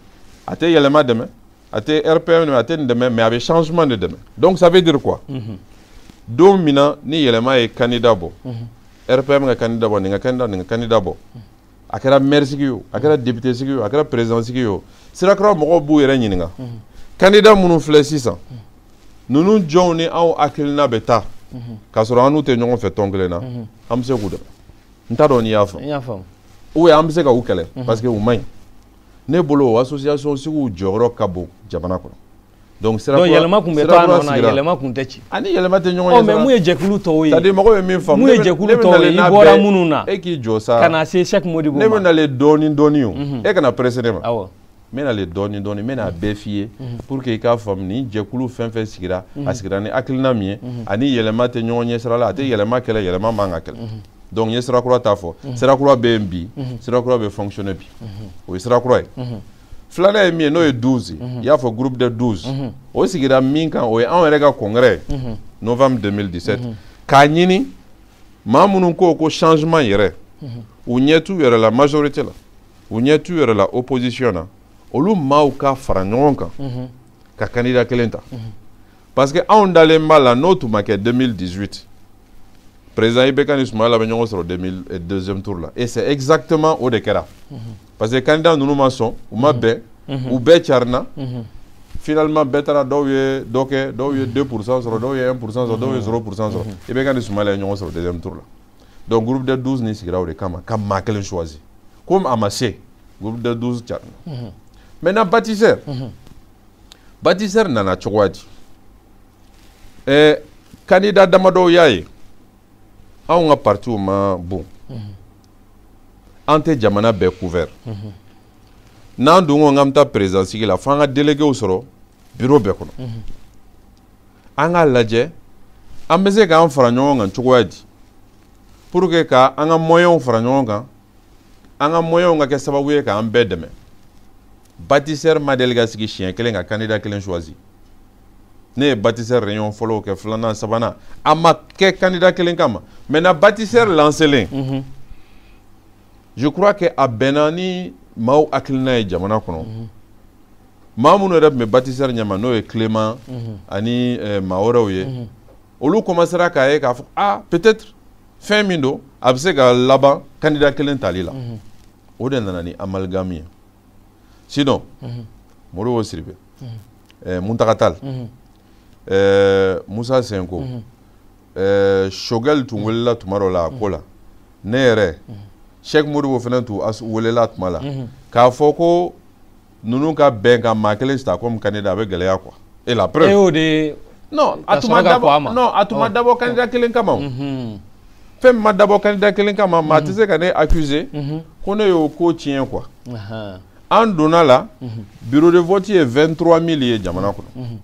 a tɛ yɛlɛma dɛmɛ a tɛ rpm dɛmɛ a tɛ nin dɛmɛ mais a bɛ changement de dɛmɛ donc ça veut dire quoi mhm. don min na ni yɛlɛma ye candidat bɔ mhm. rpm ka candidat bɔ nin ka candidat nin ka candidat bɔ mhm. a kɛra maire sigi ye o a kɛra député sigi ye o a kɛra président sigi ye o sira kura mɔgɔw b'u yɛrɛ ɲininka candidat minnu filɛ sisan ninnu jɔnw ni anw hakilina bɛ taa k'a sɔrɔ an n'u tɛ ɲɔgɔn fɛ tɔn kelen na an bɛ se k'u dɛmɛ n t'a dɔn n'i y'a faamu ou an bɛ se ka u kɛlɛ parce que u man ɲi ne bolo o association suguw jɔyɔrɔ ka bon jamana kɔnɔ donc sira kura yɛlɛma tun bɛ to a nɔ na yɛlɛma tun tɛ ci ani yɛlɛma tɛ ɲɔgɔn ye mais mun ye jɛkulu tɔw ye c'est à dire mɔgɔw ye min faamu mun ye jɛkulu tɔw ye i bɔra minnu na e k'i jɔ sa ka na se Cheick Modibo ma ne bɛ nalen dɔɔni dɔɔni o e kana presser ne ma awɔ n bɛ nalen dɔɔni dɔɔni n bɛna a bɛɛ f'i ye pour que i k'a faamu nin jɛkulu fɛn fɛn sigira a sigira ni hakilina min ye ani yɛlɛma tɛ ɲɔgɔn ɲɛsira la a tɛ yɛlɛma kɛlɛ yɛlɛma man ka kɛlɛ donc n ye sira kura ta fɔ sira kura bɛ yen bi sira kura bɛ fonctionner bi o ye sira kura ye filanan ye min ye n'o ye 12 ye i y'a fɔ groupe de 12 o sigira min kan o ye anw yɛrɛ ka congrès ye novembre 2017 k'a ɲini maa minnu ko ko changement yɛrɛ u ɲɛ t'u yɛrɛ la majorité la u ɲɛ t'u yɛrɛ la opposition na olu maaw ka fara ɲɔgɔn kan ka candidat kelen ta parce que anw dalen b'a la n'o tun ma kɛ 2018 président IBK ni Soumaïla bɛ ɲɔgɔn sɔrɔ 2000 eh, deuxième tour la et c'est exactement o de kɛra parce que candidat ninnu ma sɔn u ma bɛn u bɛɛ carina finalement bɛɛ taara dɔw ye dɔ kɛ dɔw ye 2 pourcent sɔrɔ dɔw ye 1 pourcent sɔrɔ dɔw ye 0 pourcent sɔrɔ IBK ni Soumaïla ye ɲɔgɔn sɔrɔ deuxième tour la donc groupe de 12 nin sigira o de kama ka maa kelen choisi comme a ma se groupe de 12 carina mhm. maintenant bâtisseur mhm. bâtisseur nana cogoya di eh, candidat damadɔw y'a ye anw ka partiw ma bon mhm. an tɛ jamana bɛɛ couvert n'an dun ko k'an bɛ taa président sigi la f'an ka déléguéw sɔrɔ bureau bɛɛ kɔnɔ an k'a lajɛ an bɛ se k'an fara ɲɔgɔn kan cogoya di pour que ka an ka moyenw fara ɲɔgɔn kan an ka moyenw ka kɛ sababu ye k'an bɛɛ dɛmɛ bâtisseur ma deli ka sigi siɲɛ kelen ka candidat kelen choisi ne ye bâtisseur réunion fɔlɔw kɛ filanan sabanan a ma kɛ candidat kelen kama maintenant bâtisseur lancelen mm-hmm. je crois que a bɛnna ni maaw hakilina ye jamana kɔnɔ mhm. maa minnu yɛrɛ tun bɛ bâtisseur ɲɛma n'o ye Clément mhm. ani eh, maa wɛrɛw ye mhm. olu commencera k'a ye k'a fɔ ah peut-être fɛn min don a bɛ se ka laban candidat kelen tali la o de nana ni amalgame ye sinon Modibo Sidibé eh, Mountaga Tall eh, Moussa Sinko ɛɛ Choguel tun welela tuma dɔ la a ko la ne yɛrɛ Cheick Modibo fana tun welela tuma la k'a fɔ ko ninnu ka bɛn ka maa kelen sita comme candidat a bɛ gɛlɛya quoi et la preuve e y'o de non a tun ma dabɔ non a tun ma dabɔ candidat kelen kama o fɛn min ma dabɔ candidat kelen kama maa tɛ se ka ne accuser ko ne y'o ko tiɲɛ quoi an donna la bureau de vote ye 23 mille ye jamana kɔnɔ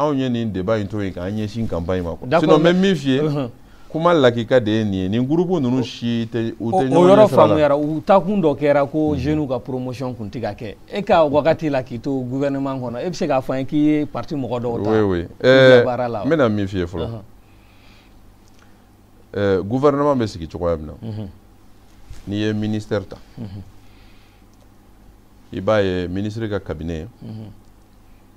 anw ye nin débat in to yen k'an ɲɛsin campagne ma quoi sinon n bɛ min f'i ye uh-huh. kuma lakika de ye nin ye nin groupe ninnu si tɛ u tɛ ɲɔgɔn ɲɛ sira la o yɔrɔ faamuyara u taakun dɔ kɛra ko mm-hmm. jeunes ka promotion kun tɛ ka kɛ e ka wagati la k'i to gouvernement kɔnɔ e bɛ se k'a fɔ an ye k'i ye parti mɔgɔ dɔw ta oui oui ɛɛ eh, baara la n bɛna min f'i ye fɔlɔ ɛɛ uh-huh. eh, gouvernement bɛ sigi cogoya min na mm-hmm. n'i ye ministère ta mm-hmm. i b'a ye ministre ka cabinet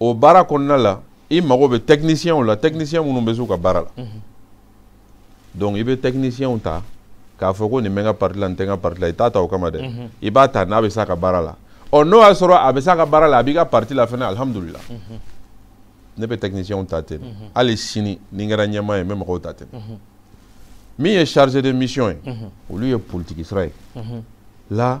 o baara kɔnɔna la i mago bɛ tɛkinisiyɛnw la tɛkinisiyɛn minnu bɛ se u ka baara la mhm. donc i bɛ tɛkinisiyɛnw ta k'a fɔ ko nin bɛ n ka parti la nin tɛ n ka parti la i t'a ta o kama dɛ mhm. i b'a ta n'a bɛ s'a ka baara la ɔ n'o y'a sɔrɔ a bɛ s'a ka baara la a b'i ka parti la fɛnɛ alihamudulila mhm. ne bɛ tɛkinisiyɛnw ta ten hali sini ni n kɛra ɲɛmaa ye n bɛ mɔgɔw ta ten min ye chargé de mission ye olu ye politiki sira ye la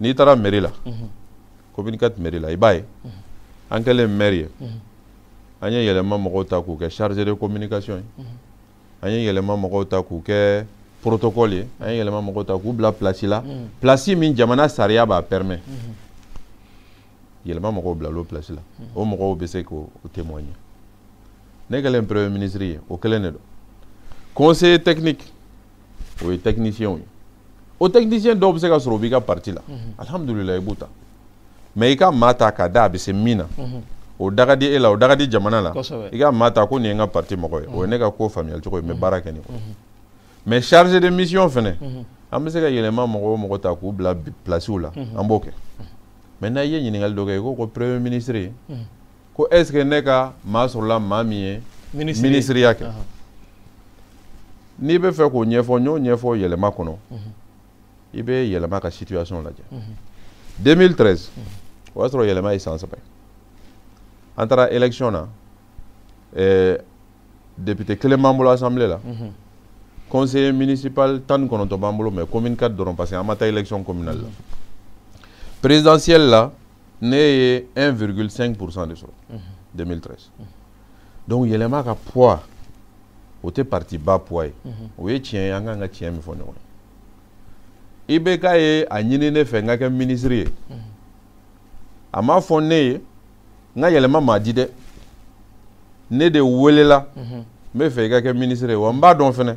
n'i taara mɛri la commune 4 mɛri la i b'a ye an kɛlen mɛri ye an ye yɛlɛma mɔgɔw ta k'u kɛ chargé de communication ye an ye yɛlɛma mɔgɔw ta k'u kɛ protocole ye an ye yɛlɛma mɔgɔw ta k'u bila place la place min jamana sariya b'a permet yɛlɛma mɔgɔw bilal'o place la o mɔgɔw bɛ se k'o témoigner ne kɛlen premier ministre ye o kelen de don conseiller technique o ye tɛkinisiyɛnw ye o tɛkinisiyɛn dɔw bɛ se ka sɔrɔ o b'i ka parti la mhm. alihamudulila i b'u ta mais i ka maa ta k'a da a bɛ se min na mhm. o da ka di e la o da ka di jamana la i ka maa ta ko nin ye n ka parti mɔgɔ ye o ye ne ka ko faamuyali cogo ye n bɛ baara kɛ nin kɔnɔ mais chargé de mission fɛnɛ an bɛ se ka yɛlɛma mɔgɔ o mɔgɔ ta k'u bila pilasiw la an b'o kɛ maintenant i ye ɲininkali dɔ kɛ i ko ko premier ministre ko est ce que ne ka maa sɔrɔla maa min ye minisiriya kɛ n'i bɛ fɛ k'o ɲɛfɔ n y'o ɲɛfɔ yɛlɛma kɔnɔ mhm. i bɛ yɛlɛma ka situation lajɛ 2013 mhm. o y'a sɔrɔ yɛlɛma ye san saba ye an taara élection na eh, député kelen b'an bolo assemblée la mhm. conseiller municipal tan ni kɔnɔntɔn b'an bolo mais commune 4 dɔrɔn parce que an ma taa élection communale la présidentielle la ne ye 1,5 pourcent de sɔrɔ 2013 donc yɛlɛma ka poids o tɛ parti ba poids ye o ye tiɲɛ ye an kan ka tiɲɛ min fɔ ɲɔgɔn ye IBK ye a ɲini ne fɛ n ka kɛ minisiri ye a m'a fɔ ne ye n ka yɛlɛma maa di dɛ ne de welela n bɛ fɛ i ka kɛ minisiri ye wa n b'a dɔn fana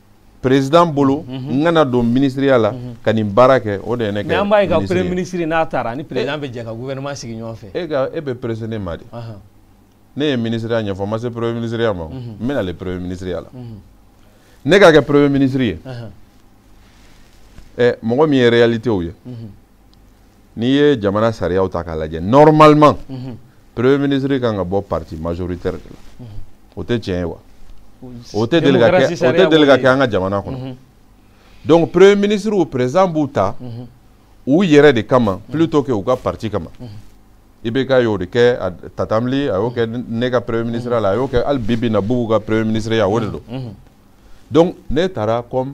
président bolo mhm. n kana don minisiriya la mhm. ka nin baara kɛ o de ye ne kɛ an b'a ye ka premier ministre n'a taara ni président bɛ jɛ ka gouvernement sigi ɲɔgɔn fɛ e ka e bɛ presser ne ma dɛ ne ye minisiriya ɲɛfɔ n ma se premier minisiriya ma mhm. n bɛ nale premier minisiriya la ne ka kɛ premier ministre ye ɛ mɔgɔ min ye réalités ye n'i ye jamana sariyaw ta k'a lajɛ normalement mhm. premier ministre kan ka bɔ parti majoritaire de la mhm. o tɛ tiɲɛ ye wa o tɛ deli ka kɛ o tɛ deli ka kɛ an ka jamana kɔnɔ mhm. donc premier ministrew président b'u ta u yɛrɛ de kama plutôt que u ka parti kama IBK y'o de kɛ Tatam Ly a y'o kɛ ne ka premier ministre la a y'o kɛ hali bi bi in na Bubu ka premier ministre ya o de don. donc ne tara comme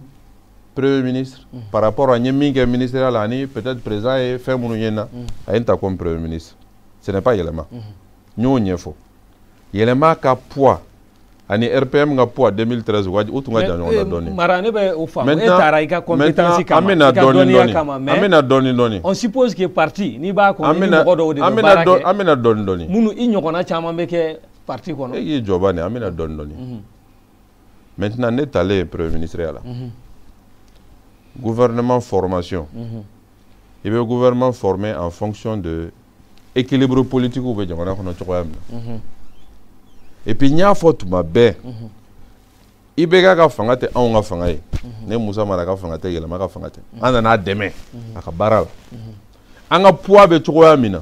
premier ministre mm. par rapport à n ye min kɛ ministeriya la ani peut-être président ye fɛn minnu ye n na mm. a ye n ta comme premier ministre ce n'est pas yɛlɛma n mm-hmm. y'o ɲɛfɔ yɛlɛma ka poids ani rpm ka poids 2013 u ka u tun ka jan ɲɔgɔn na dɔɔni mara ne bɛ o faamu e tara i ka compétence kama i ka dɔnniya kama mais an bɛ na dɔɔni dɔɔni on suppose que parti n'i b'a kɔnɔ i ni mɔgɔ dɔw de bɛ baara kɛ an bɛ na dɔɔni dɔɔni minnu i ɲɔgɔnna caman bɛ kɛ parti kɔnɔ e k'i jɔ bani an bɛ na dɔɔni dɔɔni maintenant ne talen ye premier ministre ya la gouvernement formation i bɛ gouvernement former en fonction de équilibre politique bɛ jamana kɔnɔ cogoya min na et puis n y'a fɔ tuma bɛɛ ibk ka fanga tɛ anw ka fanga ye ne musa mara ka fanga tɛ yɛlɛma ka fanga tɛ an nana a dɛmɛ a ka baara la an ka poids bɛ cogoya min na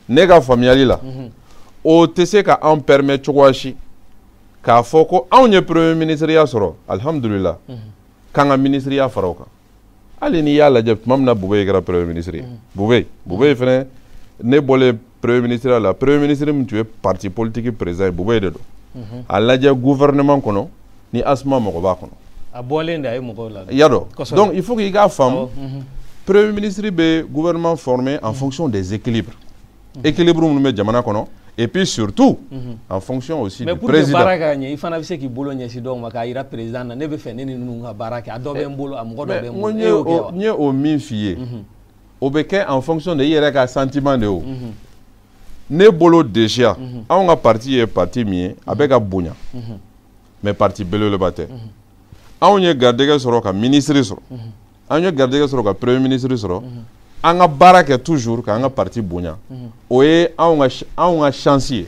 ne ka faamuyali la mhm. o tɛ se ka anw permettre cogoya si k'a fɔ ko anw ye premier ministre ya sɔrɔ alihamudulila mhm. k'an ka minisiriya fara o kan hali n'i y'a lajɛ tuma min na boubèye kɛra premier ministre ye mhm. boubèye boubèye fɛnɛ ne bɔlen premier ministre ya la premier ministre min tun ye parti politique président ye boubèye de don a lajɛ gouvernement kɔnɔ ni asma mɔgɔ b'a kɔnɔ a bɔlen de a ye mɔgɔw la i y'a dɔn donc il faut k'i k'a faamu mhm. premier ministre bɛ gouvernement former en mhm. fonction des équilibres mhm. équilibre minnu bɛ jamana kɔnɔ et puis surtout en fonction aussi du président mais pour que baara ka ɲɛ i fana bɛ se k'i bolo ɲɛsin dɔw ma k'a jira président na ne b'a fɛ ne ni ninnu ka baara kɛ a dɔ bɛ n bolo a mɔgɔ dɔ bɛ n bolo e y'o kɛ wa n ye o min f'i ye o bɛ kɛ en fonction de i yɛrɛ ka sentiment de ye o ne bolo déjà anw ka parti ye parti min ye a bɛ ka bonya. mais parti belebeleba tɛ mhm. anw ye garijɛgɛ sɔrɔ ka minisiri sɔrɔ mhm. an ye garijɛgɛ sɔrɔ ka premier ministre sɔrɔ mhm. an ka baara kɛ toujours k'an ka parti bonya o ye anw ka anw ka chance ye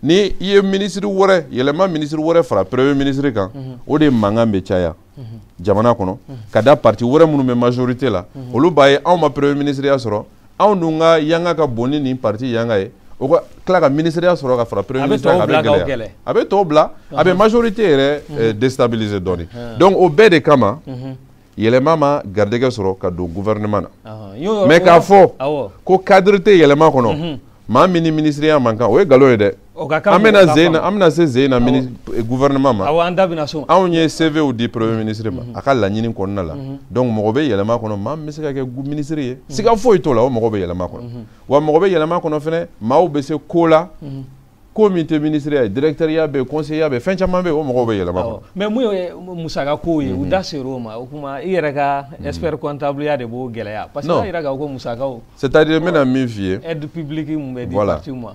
ni i ye minisiri wɛrɛ yɛlɛma minisiri wɛrɛ fara premier ministre kan o de mankan bɛ caya jamana kɔnɔ ka da parti wɛrɛ minnu bɛ majorité la olu b'a ye anw ma premier ministre ya sɔrɔ anw dun ka yanga ka bon ni nin parti yanga ye o ka tila ka ministre ya sɔrɔ ka fara premier ministre a bɛ gɛlɛya a bɛ tɔw bila a bɛ majorité yɛrɛ eh, déstabiliser dɔɔni donc o bɛɛ de kama yɛlɛma ma garijɛgɛ sɔrɔ ka don gouvernement na mais k'a fɔ ko cadre tɛ yɛlɛma kɔnɔ maa min ni ministre ya man kan o ye nkalon ye dɛ O ka kan an bɛna zen na an bɛna se zen na mini eh, gouvernement ma awɔ an da bɛna so anw ye CVw di premier ministre ma mhm. a ka laɲini kɔnɔna la mhm. donc mɔgɔ bɛ yɛlɛma kɔnɔ maa min bɛ se ka kɛ ministre ye mhm. siga foyi t'o la o mɔgɔ bɛ yɛlɛma kɔnɔ wa mɔgɔ bɛ yɛlɛma kɔnɔ fɛnɛ maaw bɛ se ko la ko min tɛ ministre ya ye directeur ya bɛ conseiller ya bɛ fɛn caman bɛ o mɔgɔw bɛ yɛlɛma kɔnɔ mais mun ye musaka ko ye u da ser'o ma o kuma i yɛrɛ ka expert comptable ya de b'o gɛlɛya parce que a jira k'a fɔ ko musakaw c'est à dire n bɛna min f'i ye aide publique min bɛ di parti ma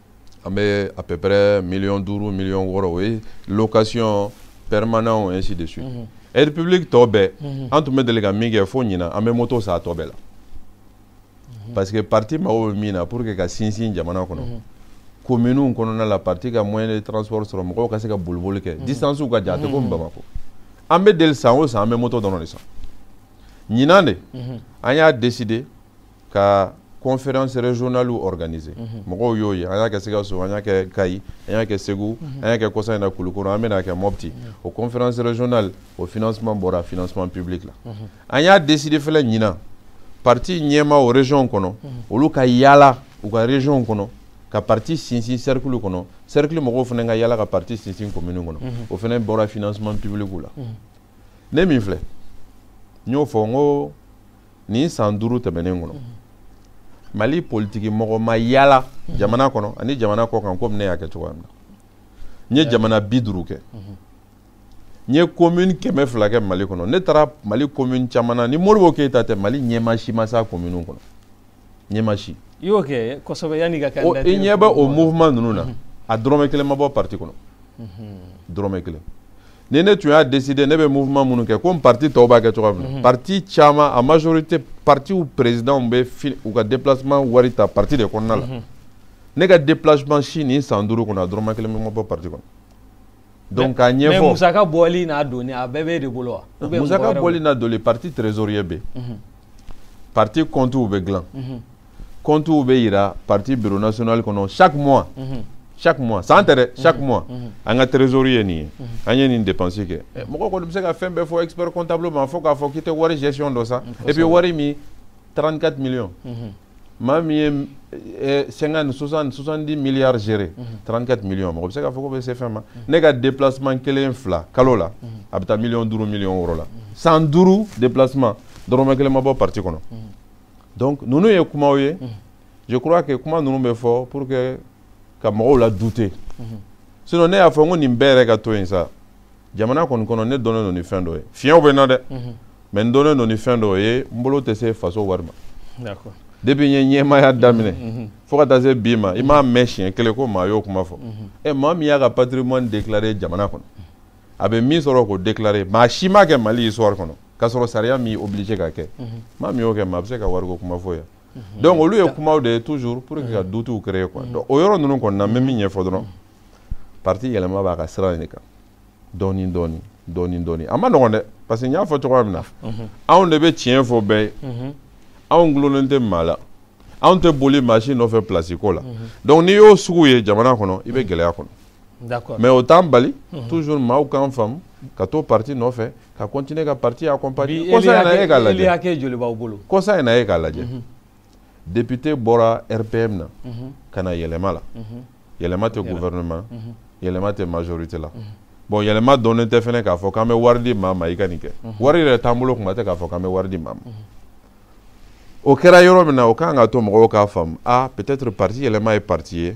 an bɛ à peu près million duuru million wɔɔrɔ o ye location permanent ainsi de suite mhm. aide publique tɔ bɛɛ mhm. an tun bɛ deli ka min kɛ fo ɲinan an bɛ moto san a tɔ bɛɛ la mhm. parce que parti mago bɛ min na pour que ka sinsin jamana kɔnɔ kominiw kɔnɔna la parti ka moyen de transport sɔrɔ mɔgɔw ka se ka boliboli kɛ distance ka jan a tɛ komi bamakɔ an bɛ deli san o san an bɛ moto dɔrɔn de san ɲinan de an y'a décider ka conférence régionale organiser mhm. mɔgɔw y'o ye an y'a kɛ Sikaso an y'a kɛ Kayi an y'a kɛ Segu mhm. an y'a kɛ kɔsa in na Kulukoro an bɛn'a kɛ Mopti mhm. o conférence régionale o financement bɔra financement public la an y'a décider fana ɲinan parti ɲɛmaaw région kɔnɔ olu ka yaala u ka région kɔnɔ ka parti sinsin cercle kɔnɔ cercle mɔgɔw fana ka yaala ka parti sinsin commune kɔnɔ o fana bɔra financement public la ne min filɛ n y'o fɔ n ko nin san duuru tɛmɛnen kɔnɔ mali politiki mɔgɔ ma yaala jamana kɔnɔ ani jamana kɔ kan komi ne y'a kɛ cogoya min na n ye jamana bi duuru kɛ n ye commune kɛmɛ fila kɛ mali kɔnɔ ne taara mali commune caman na ni modibo keyita tɛ mali ɲɛmaa si ma s'a commune kɔnɔ ɲɛmaa si i y'o kɛ kosɛbɛ yanni ka kɛ i ɲɛ bɛ o mouvement ninnu na a dɔrɔmɛ kelen ma bɔ parti kɔnɔ dɔrɔmɛ kelen ni ne tun y'a décider ne bɛ mouvement minnu kɛ komi parti tɔw b'a kɛ cogoya min na mhm. parti caman a majorité partiw présidents bɛ u ka déplacement wari ta parti de kɔnɔna la mhm. ne ka déplacement si nin san duuru kɔnɔ a dɔrɔmɛ kelen pe ma bɔ parti kɔnɔ donc k'a ɲɛfɔ mais musaka bɔli n'a donni a bɛɛ b'e de bolo wa ah, musaka bɔli n'a donni parti trésorier bɛ yen mhm. parti kɔntuw bɛ dilan kɔntuw bɛ yira parti bureau national kɔnɔ chaque mois mhm. chaque mois san tɛ dɛ chaque mois an ka trésorerie ye nin ye an ye nin dépense kɛ eh, mɔgɔ kɔni bɛ se ka fɛn bɛɛ fɔ expert comptable ma fo k'a fɔ k'i tɛ wari gestion dɔn sa et puis wari min 34 millions maa min ye eh, cinquante soixante soixante dix milliards géré trente quatre millions mɔgɔ bɛ se k'a fɔ k'o bɛ se fɛn ma ne ka déplacement kelen fila kalo la a bɛ taa miliyɔn duuru miliyɔn wɔɔrɔ la san duuru déplacement dɔrɔmɛ kelen ma bɔ parti kɔnɔ donc ninnu ye kumaw ye mhm. je crois que kuma ninnu bɛ fɔ pour que ka mɔgɔw la douter mhm. sinon ne y'a fɔ n ko nin bɛɛ yɛrɛ ka to yen sa jamana kɔni kɔnɔ ne dɔnnen don ni fɛn dɔ ye fiɲɛw bɛ n na dɛ mhm. mais n dɔnnen don ni fɛn dɔ ye n bolo tɛ se faso wari ma depuis n ye ɲɛmaaya daminɛ fo ka taa se bi ma i m'a mɛn siɲɛ kelen ko maa y'o kuma fɔ ɛ maa min y'a ka patrimoine déclaré jamana kɔnɔ a bɛ min sɔrɔ k'o déclarer maa si m'a kɛ Mali histoire kɔnɔ k'a sɔrɔ sariya m'i obligé k'a kɛ mhm. maa min y'o kɛ maa bɛ se ka wariko kuma fɔ yan mhm. donc olu ye kumaw de ye toujours pour que ka mhm. doutew créer quoi donc o yɔrɔ ninnu kɔni na n bɛ min ɲɛfɔ dɔrɔn parti yɛlɛma b'a ka sira in de kan dɔɔnin dɔɔnin dɔɔnin dɔɔnin a man nɔgɔn dɛ parce que n y'a fɔ cogoya min na anw de bɛ tiɲɛ fɔ bɛɛ ye anw gulonnen tɛ maa la anw tɛ boli maa si nɔfɛ place ko la donc n'i y'o sugu ye jamana kɔnɔ i bɛ gɛlɛya kɔnɔ d'accord mais o t'an bali mhm. toujours maaw k'an faamu ka to parti nɔfɛ ka continuer ka parti accompagner kɔsa in na e k'a lajɛ kɔsa in na e k'a lajɛ mhm. député bɔra rpm na mhm. ka na yɛlɛma la yɛlɛma tɛ gouvernement yɛlɛma tɛ majorité la bon yɛlɛma dɔnnen tɛ fɛnɛ k'a fɔ k'an bɛ wari di maa ma i ka nin kɛ wari yɛrɛ t'an bolo kuma tɛ k'a fɔ k'an bɛ wari di maa ma o kɛra yɔrɔ min na o kan ka to mɔgɔw k'a faamu a ah, peut-être parti yɛlɛma ye parti ye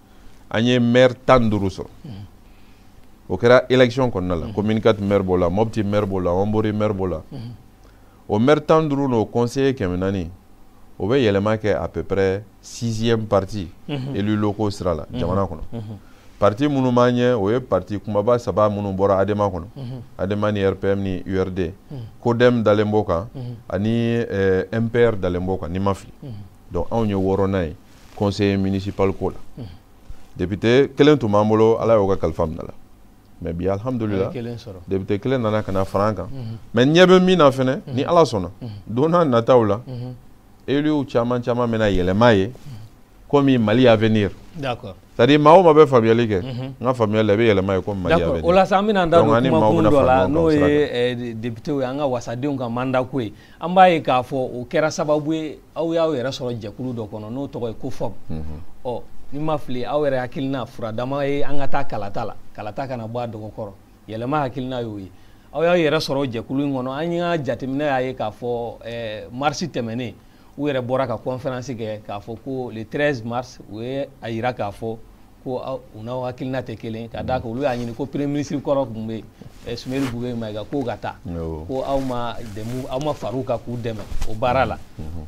an ye maire tan ni duuru sɔrɔ o kɛra élection kɔnɔna la commune 4 maire b'o la mɔpti maire b'o la ɔnbori maire b'o la o maire tan ni duuru n'o conseiller kɛmɛ naani o bɛ yɛlɛma kɛ à peu près sixième parti élus locaux sira la jamana kɔnɔ parti minnu b'an ɲɛ o ye parti kumaba saba minnu bɔra adema kɔnɔ adema ni rpm ni urd codem dalen b'o kan ani mpr dalen b'o kan ni n ma fili donc anw ye wɔɔrɔnan ye conseiller municipal ko la mhm. député kelen tun b'an bolo ala y'o ka kalifa minɛ a la mais bi alhamdulila député kelen nana ka na fara an kan mhm. mais ɲɛ bɛ min na fɛnɛ ni mhm. ala sɔnna don n'a nataw la éluw caman caman bɛna yɛlɛma ye komi mali avenir d'accord c'est à dire maa o maa bɛ faamuyali kɛ n ka faamuyali la i bɛ yɛlɛma ye komi mali avenir o la sa an bɛna an da don kumakun dɔ la n'o ye eh, député ye an ka wasadenw ka mandat ko ye an b'a ye k'a fɔ o kɛra sababu ye aw y'aw yɛrɛ sɔrɔ jɛkulu dɔ kɔnɔ n'o tɔgɔ ye cofop mhm. ɔ ni n ma fili aw yɛrɛ hakilina furadama ye an ka taa kalata la kalata kana bɔ a dɔgɔ kɔrɔ yɛlɛma hakilina y'o ye aw y'aw yɛrɛ sɔrɔ jɛkulu in kɔnɔ an y'a jateminɛ y'a ye k'a fɔ eh, marisi tɛmɛnen u yɛrɛ bɔra ka conférence kɛ k'a fɔ ko le 13 mars u ye a yira k'a fɔ ko u n'aw hakilina tɛ kelen ka d'a kan olu y'a ɲini ko premier ministre kɔrɔ tun bɛ yen Soumeylou Boubèye Maïga k'o ka taa ko aw ma dɛmu aw ma far'u kan k'u dɛmɛ o baara la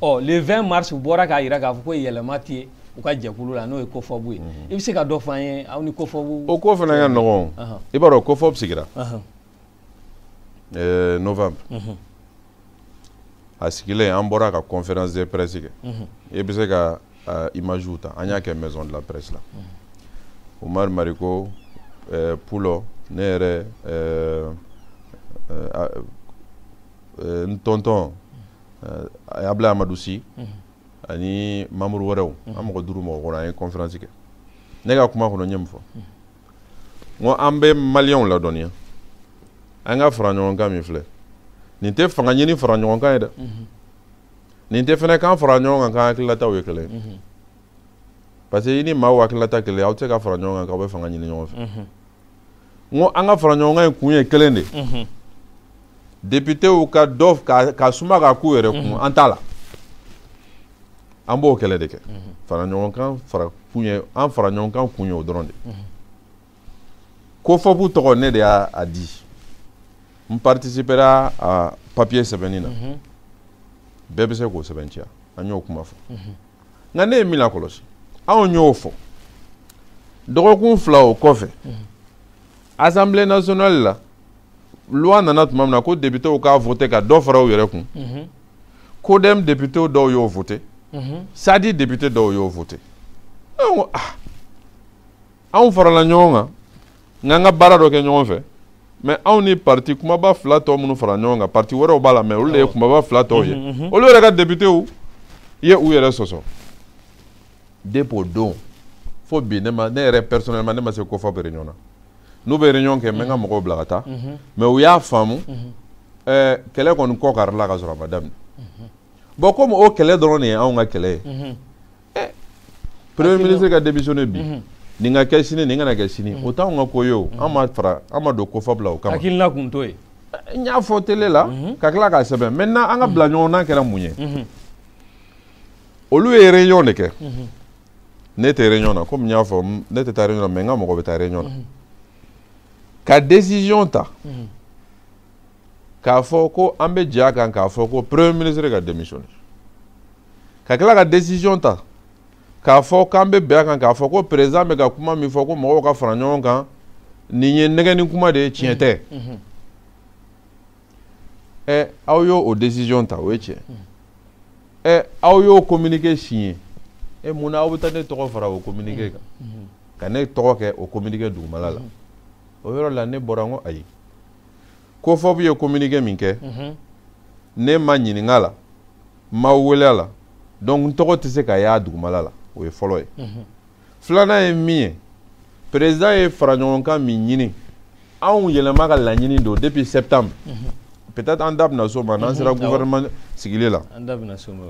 ɔ le 20 mars u bɔra k'a jira k'a fɔ ko yɛlɛma tɛ yen u ka jɛkulu la n'o ye cofop ye i bɛ se ka dɔ fɔ an ye aw ni cofop o ko fana ka nɔgɔn i b'a dɔn cofop sigira novembre a sigilen an bɔra ka conférence de presse kɛ mhm. i bɛ se ka image ta an y'a kɛ maison de la presse la mhm. Umar Mariko eh, Pulo ne yɛrɛ eh, eh, n tonton Ablaye Amadou Sy mhm. ani membre wɛrɛw an mɔgɔ duuru mɔgɔ kɔnɔ an ye conférence kɛ ne ka kuma kɔnɔ n ye mun fɔ n ko an bɛ maliyɛnw ladɔnniya an ka fara ɲɔgɔn kan min filɛ nin tɛ fanga ɲini fara ɲɔgɔn kan ye dɛ mhm. nin tɛ fana k'an fara ɲɔgɔn kan k'an hakililataw ye kelen ye mhm. parce que i ni maaw hakilila tɛ kelen aw tɛ se ka fara ɲɔgɔn kan k'aw bɛ fanga ɲini ɲɔgɔn fɛ mhm. n ko an ka fara ɲɔgɔn kan in kun ye kelen de ye depitew ka dɔ ka, ka suma ka k'u yɛrɛ kun mm -hmm. an t'a la an b'o kɛlɛ de kɛ mm -hmm. fara ɲɔgɔn kan fara kun ye an fara ɲɔgɔn kan kun ye o dɔrɔn de mm -hmm. COFOP tɔgɔ ne de y'a di n participera a papiye sɛbɛnni na mm -hmm. bɛɛ bɛ se k'o sɛbɛntiya an y'o kuma fɔ mm -hmm. nka ne ye min lakɔlɔsi anw y'o fɔ dɔgɔkun fila o kɔfɛ mm -hmm. assemblée nationale la loi nana tuma min na ko depitew k'a vote ka dɔ fara u yɛrɛ kun mhm. CODEM depitew dɔw y'o vote mhm. SADI depite dɔw y'o vote an ko ah anw farala ɲɔgɔn kan k'an ka baara dɔ kɛ ɲɔgɔn fɛ mais anw ni parti kumaba fila tɔ minnu farala ɲɔgɔn kan parti wɛrɛw b'a la mais olu de ye kumaba fila tɔw ye olu yɛrɛ ka depitew ye u yɛrɛ sɔsɔ depuis o don fo bi ne ma ne yɛrɛ personnellement ne ma se COFOP réunion na n'u bɛ réunion kɛ n bɛ n ka mɔgɔw bila ka taa mais u y'a faamu ɛɛ kɛlɛ kɔni kɔ karila ka sɔrɔ a ma daminɛ bon komi o kɛlɛ dɔrɔn de ye anw ka kɛlɛ ye ɛ premier ministre ka démissionner bi nin ka kɛ sini nin kana kɛ sini o t'anw ka ko ye o an ma fara an ma don COFOP la o kama hakilina kun t'o ye n y'a fɔ tele la ka tila k'a sɛbɛn maintenant an ka bila ɲɔgɔn na kɛra mun ye olu ye réunion de kɛ mhm. ne tɛ réunion na komi n y'a fɔ ne tɛ taa réunion na mais n ka mɔgɔ bɛ taa réunion na mhm. ka décision ta mhm. k'a fɔ ko an bɛ jɛ a kan k'a fɔ ko premier ministre ka démissionner ka tila ka décision ta k'a fɔ k'an bɛ bɛn a kan k'a fɔ ko président bɛ ka kuma min fɔ ko mɔgɔw ka fara ɲɔgɔn kan nin ye nɛgɛni kuma de ye tiɲɛ tɛ. ɛ aw y'o o décision ta o ye tiɲɛ ɛ aw y'o communiqué signé ɛ mun na aw bɛ taa ne tɔgɔ fara o communiqué kan ka ne tɔgɔ kɛ o communiqué dugumala la o yɔrɔ la ne bɔra n ko ayi COFOP ye communiqué min kɛ ne ma ɲininka a la n ma wele a la donc n tɔgɔ tɛ se ka y'a dugumala la o ye fɔlɔ ye filanan ye min ye perezida ye faraɲɔgɔnkan min ɲini anw yɛlɛma ka laɲini don depuis septembre mhm. peut-être an da bɛna s'o ma n'an mhm. sera gouvernement sigili la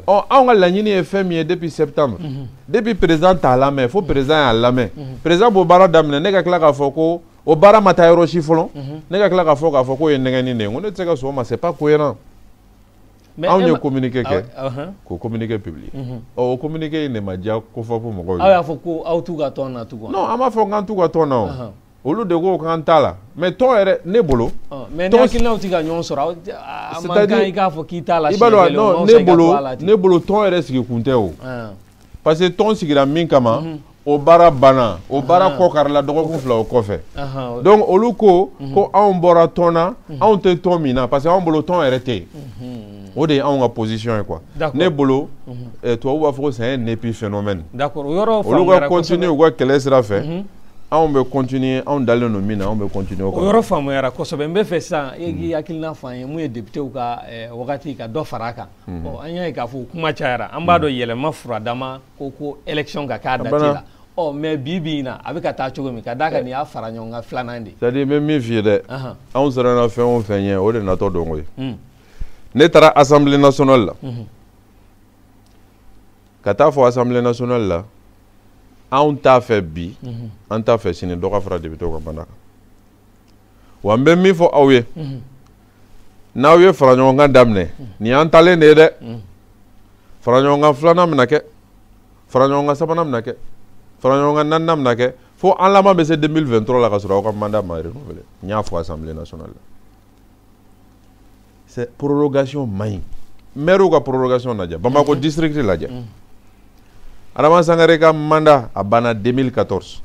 ɔ anw ka laɲini ye fɛn min ye depuis septembre mhm. depuis perezida t'a lamɛn fo perezida y'a lamɛn perezida b'o baara daminɛ ne ka tila k'a fɔ ko o baara ma taa yɔrɔ si fɔlɔ ne ka tila k'a fɔ k'a fɔ k'o ye nɛgɛnni de ye n ko ne tɛ se ka sɔn o ma c'est pas cohérent mais anw ye communiqué kɛ k'o communiqué publié ɔ o communiqué in de ma diya cofop mɔgɔw ye aw y'a fɔ ko aw t'u ka tɔn na tugun non an m'a fɔ k'an t'u ka tɔn na o olu de ko k'an t'a la mais tɔn yɛrɛ ne bolo mais ni hakilinaw tɛ ka ɲɔgɔn sɔrɔ a man kan i k'a fɔ k'i t'a la siɲɛ kelen o man fisa i ka to a la ten i b'a dɔn ne bolo ne bolo tɔn yɛrɛ sigikun tɛ o parce que tɔn sigira min kama mhm. o baara banna o baara kɔ karila dɔgɔkun fila o kɔfɛ donc olu ko mhm. ko anw bɔra tɔn na mhm. anw tɛ tɔn min na parce que anw bolo tɔn yɛrɛ tɛ yen o de ye anw ka position ye quoi ne bolo eh, tubabu b'a fɔ ko c'est un épiphénomène olu ka continuer u ka kɛlɛ sira fɛ anw bɛ continuer anw dalen don min na anw bɛ continuer o kan o yɔrɔ faamuyara kosɛbɛ n bɛ fɛ sisan e k'i hakilina fɔ an ye mun ye députéw ka eh, wagati ka dɔ fara a kan mhm. an y'a ye k'a fɔ kuma cayara an b'a dɔn mhm. yɛlɛma furadama ko ko élection ka k'a dati la ɔ mais bi bi in na a bɛ ka taa cogo min ka d'a kan nin y'a faraɲɔgɔnkan filanan de. c'est à dire n bɛ min f'i ye dɛ anw siranna fɛn o fɛn ɲɛ o de natɔ don koyi hmm. ne taara assemblée nationale la mhm. ka taa fɔ assemblée nationale la anw t'a fɛ bi an t'a fɛ sini dɔ ka fara députéw ka mandat kan wa n bɛ min fɔ aw ye. n'aw ye faraɲɔgɔnkan daminɛ nin y'an taalen de ye dɛ faraɲɔgɔnkan filanan bɛna kɛ faraɲɔgɔnkan sabanan bɛna kɛ faraɲɔgɔnkan naaninan bɛna kɛ fo an laban bɛ se 2023 la ka sɔrɔ aw ka mandat ma renouveler n y'a fɔ assemblée nationale la c'est prorogation man ɲi maire ka prorogation lajɛ bamakɔ district lajɛ adama sangare ka mandat a banna 2014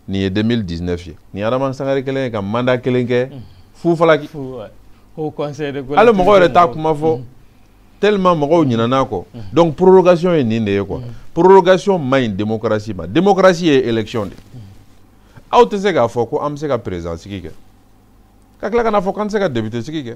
nin ye 2019 ye nin adama sangare kɛlen ye ka mandat kelen kɛ fu falaki hali mɔgɔ yɛrɛ t'a kuma fɔ tellement mɔgɔw ɲinana kɔ donc prorogation ye nin de ye quoi prorogation man ɲi démocratie ma démocratie ye élection de aw tɛ se k'a fɔ ko an bɛ se ka président sigi kɛ ka tila ka n'a fɔ k'an tɛ se ka député sigi kɛ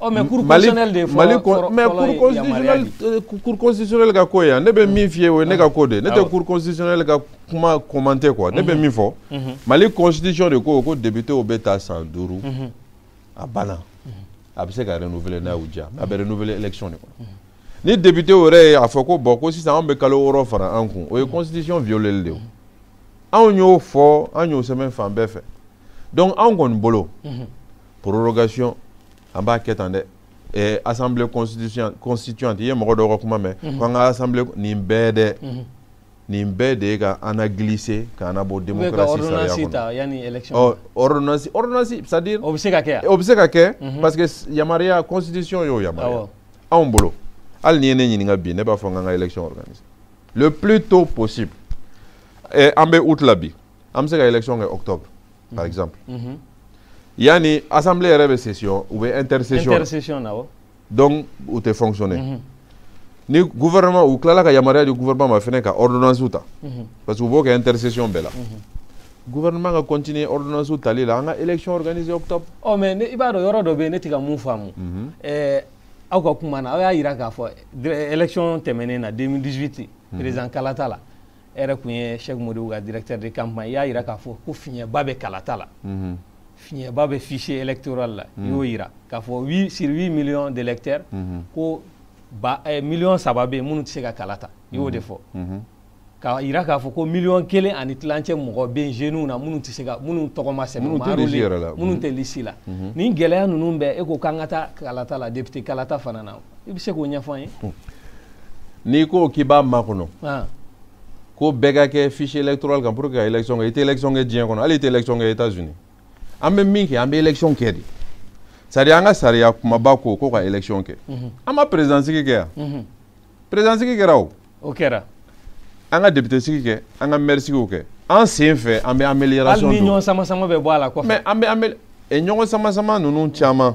ɔ mais cour constitutionnelle de ye fɔlɔ fɔlɔ mais cour constitutionnelle euh, cour constitutionnelle ka ko ye yan ne bɛ min f'i ye o ye ne ka ko de ye ne tɛ cour constitutionnelle ka kuma commenter quoi ne bɛ min fɔ mali constitution de ko ko députéw bɛ ta san duuru a banna a bɛ se ka renouveler n'a y'u diya a bɛ renouveler élection de kɔnɔ ni député yɛrɛ ye a fɔ ko bon ko sisan anw bɛ kalo wɔɔrɔ fara an kun o ye constitution violeli de ye anw y'o fɔ an y'o sɛbɛn fan bɛɛ fɛ donc anw kɔni bolo. Mm -hmm. prorogation an b'a kɛ tan dɛ eh, assemblée constituante i ye mɔgɔ dɔw ka kuma mɛn mhm. ko an ka assemblée nin bɛɛ dɛ mhm. nin bɛɛ de ye ka an glisser k'an labɔ démocratie sariya kɔnɔ ordonnance ordonnance c'est à dire o bɛ se ka kɛ o bɛ se ka kɛ mhm. parce que yamaruya constitution y'o yamaruya anw bolo hali n'i ye ne ɲininka bi ne b'a fɔ an ka an ka élection organiser le plus tôt possible eh, an bɛ août la bi an bɛ se ka élection kɛ octobre par exemple yanni assemblée yɛrɛ bɛ session u bɛ intersession intersession na awɔ donc u tɛ fonctionner ni gouvernement u tilala ka yamaruya di gouvernement ma fɛnɛ ka ordonnance ta parce que u b'o kɛ intersession bɛɛ la gouvernement ka continuer ordonnance tali la an ka élection organiser octobre ɔ mais i b'a dɔn yɔrɔ dɔ bɛ yen ne tɛ ka mun faamu aw ka kuma na aw y'a yira k'a fɔ élection tɛmɛnen na 2018 président kalata la e yɛrɛ kun ye Cheick Modibo ka directeur de campagne i y'a yira k'a fɔ ko fiɲɛba bɛ kalata la mhm. fiɲɛba bɛ fichier électoral la i y'o yira k'a fɔ sur 8 millions d'électeurs ko ba eh, miliyɔn saba bɛ yen minnu tɛ se ka kala ta i y'o de fɔ k'a yira k'a fɔ ko miliyɔn kelen ani tilancɛ mɔgɔ bɛ yen jeunes na minnu tɛ se ka minnu tɔgɔ ma sɛbɛn minnu tɛ lisi yɛrɛ la minnu tɛ lisi la nin gɛlɛya ninnu bɛɛ e ko k'an ka taa kalata la député kalata fana na i bɛ se k'o ɲɛfɔ an ye hmm. n'i ko k'i b'a makɔnɔ ah. ko bɛɛ ka kɛ fichier électoral kan pour que ka élection kɛ i tɛ élection kɛ diɲɛ kɔnɔ hali i tɛ élection kɛ États-Unis an bɛ min kɛ an bɛ élection kɛ de sari an ka sariya kumaba ko ko ka élection kɛ mhm. an ma président sigi kɛ yan mhm. président sigi kɛra o o kɛra an ka député sigi kɛ an ka maire sigiw kɛ a sen fɛ an bɛ amélioration don hali ni ɲɔgɔn sama sama bɛ bɔ a la kɔfɛ mais an bɛ amélioration ɲɔgɔn sama sama ninnu caman.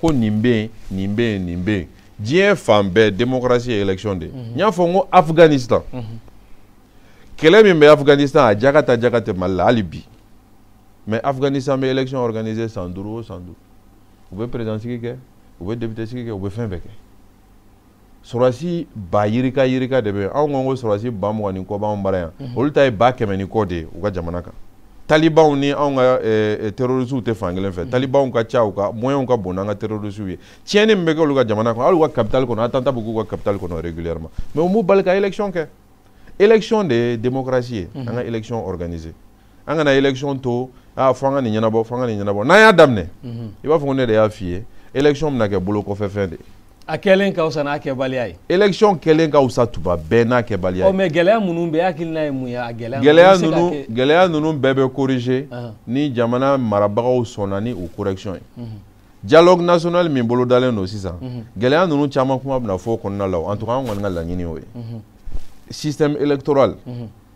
ko nin bɛ yen nin bɛ yen nin bɛ yen diɲɛ fan bɛɛ démocratie ye élection de ye n y'a fɔ n ko Afghanistan kɛlɛ min bɛ Afghanistan a jaka ta jaka tɛ Mali la hali bi mais Afghanistan bɛ élection organiser san duuru o san duuru u bɛ président sigi kɛ u bɛ député sigi kɛ u bɛ fɛn bɛɛ kɛ sɔrɔdasi ba yirika yirika de bɛ anw ko ko sɔrɔdasi ba mugan ni kɔ b'anw bara yan mhm. olu ta ye ba kɛmɛ ni kɔ de ye u ka jamana kan talibanw ni anw ka eh, eh, terrorisiw tɛ fan kelen fɛ mhm. talibanw ka ca u ka moyɛnw ka bon n'an ka terrorisiw ye tiɲɛni min bɛ kɛ olu ka jamana kɔnɔ hali u ka capitale kɔnɔ attentat bɛ k'u ka capitale kɔnɔ régulièrement mais o m'u bali ka élection kɛ élection de ye démocratie ye mhm. an ka élection organiser an kana élection to aa fo an ka nin ɲɛnabɔ fo an ka nin ɲɛnabɔ n'an y'a daminɛ mhm. i b'a fɔ ko ne de y'a f'i ye élection bɛna kɛ bolokɔfɛfɛn de ye a kɛlen ka wusa n'a kɛbaliya ye élection kɛlen ka wusa tuma bɛɛ n'a kɛbaliya ye ɔ oh, mais gɛlɛya minnu bɛ hakilina ye mun ye a gɛlɛya gɛlɛya ninnu gɛlɛya ninnu bɛɛ bɛ corriger ni jamana marabagaw sɔnna ni o correction ye mhm. dialogue national min bolodalen don sisan mhm. gɛlɛya ninnu caman kuma bɛna fɔ o kɔnɔna la en tout cas an kɔni ka laɲini y'o ye système électoral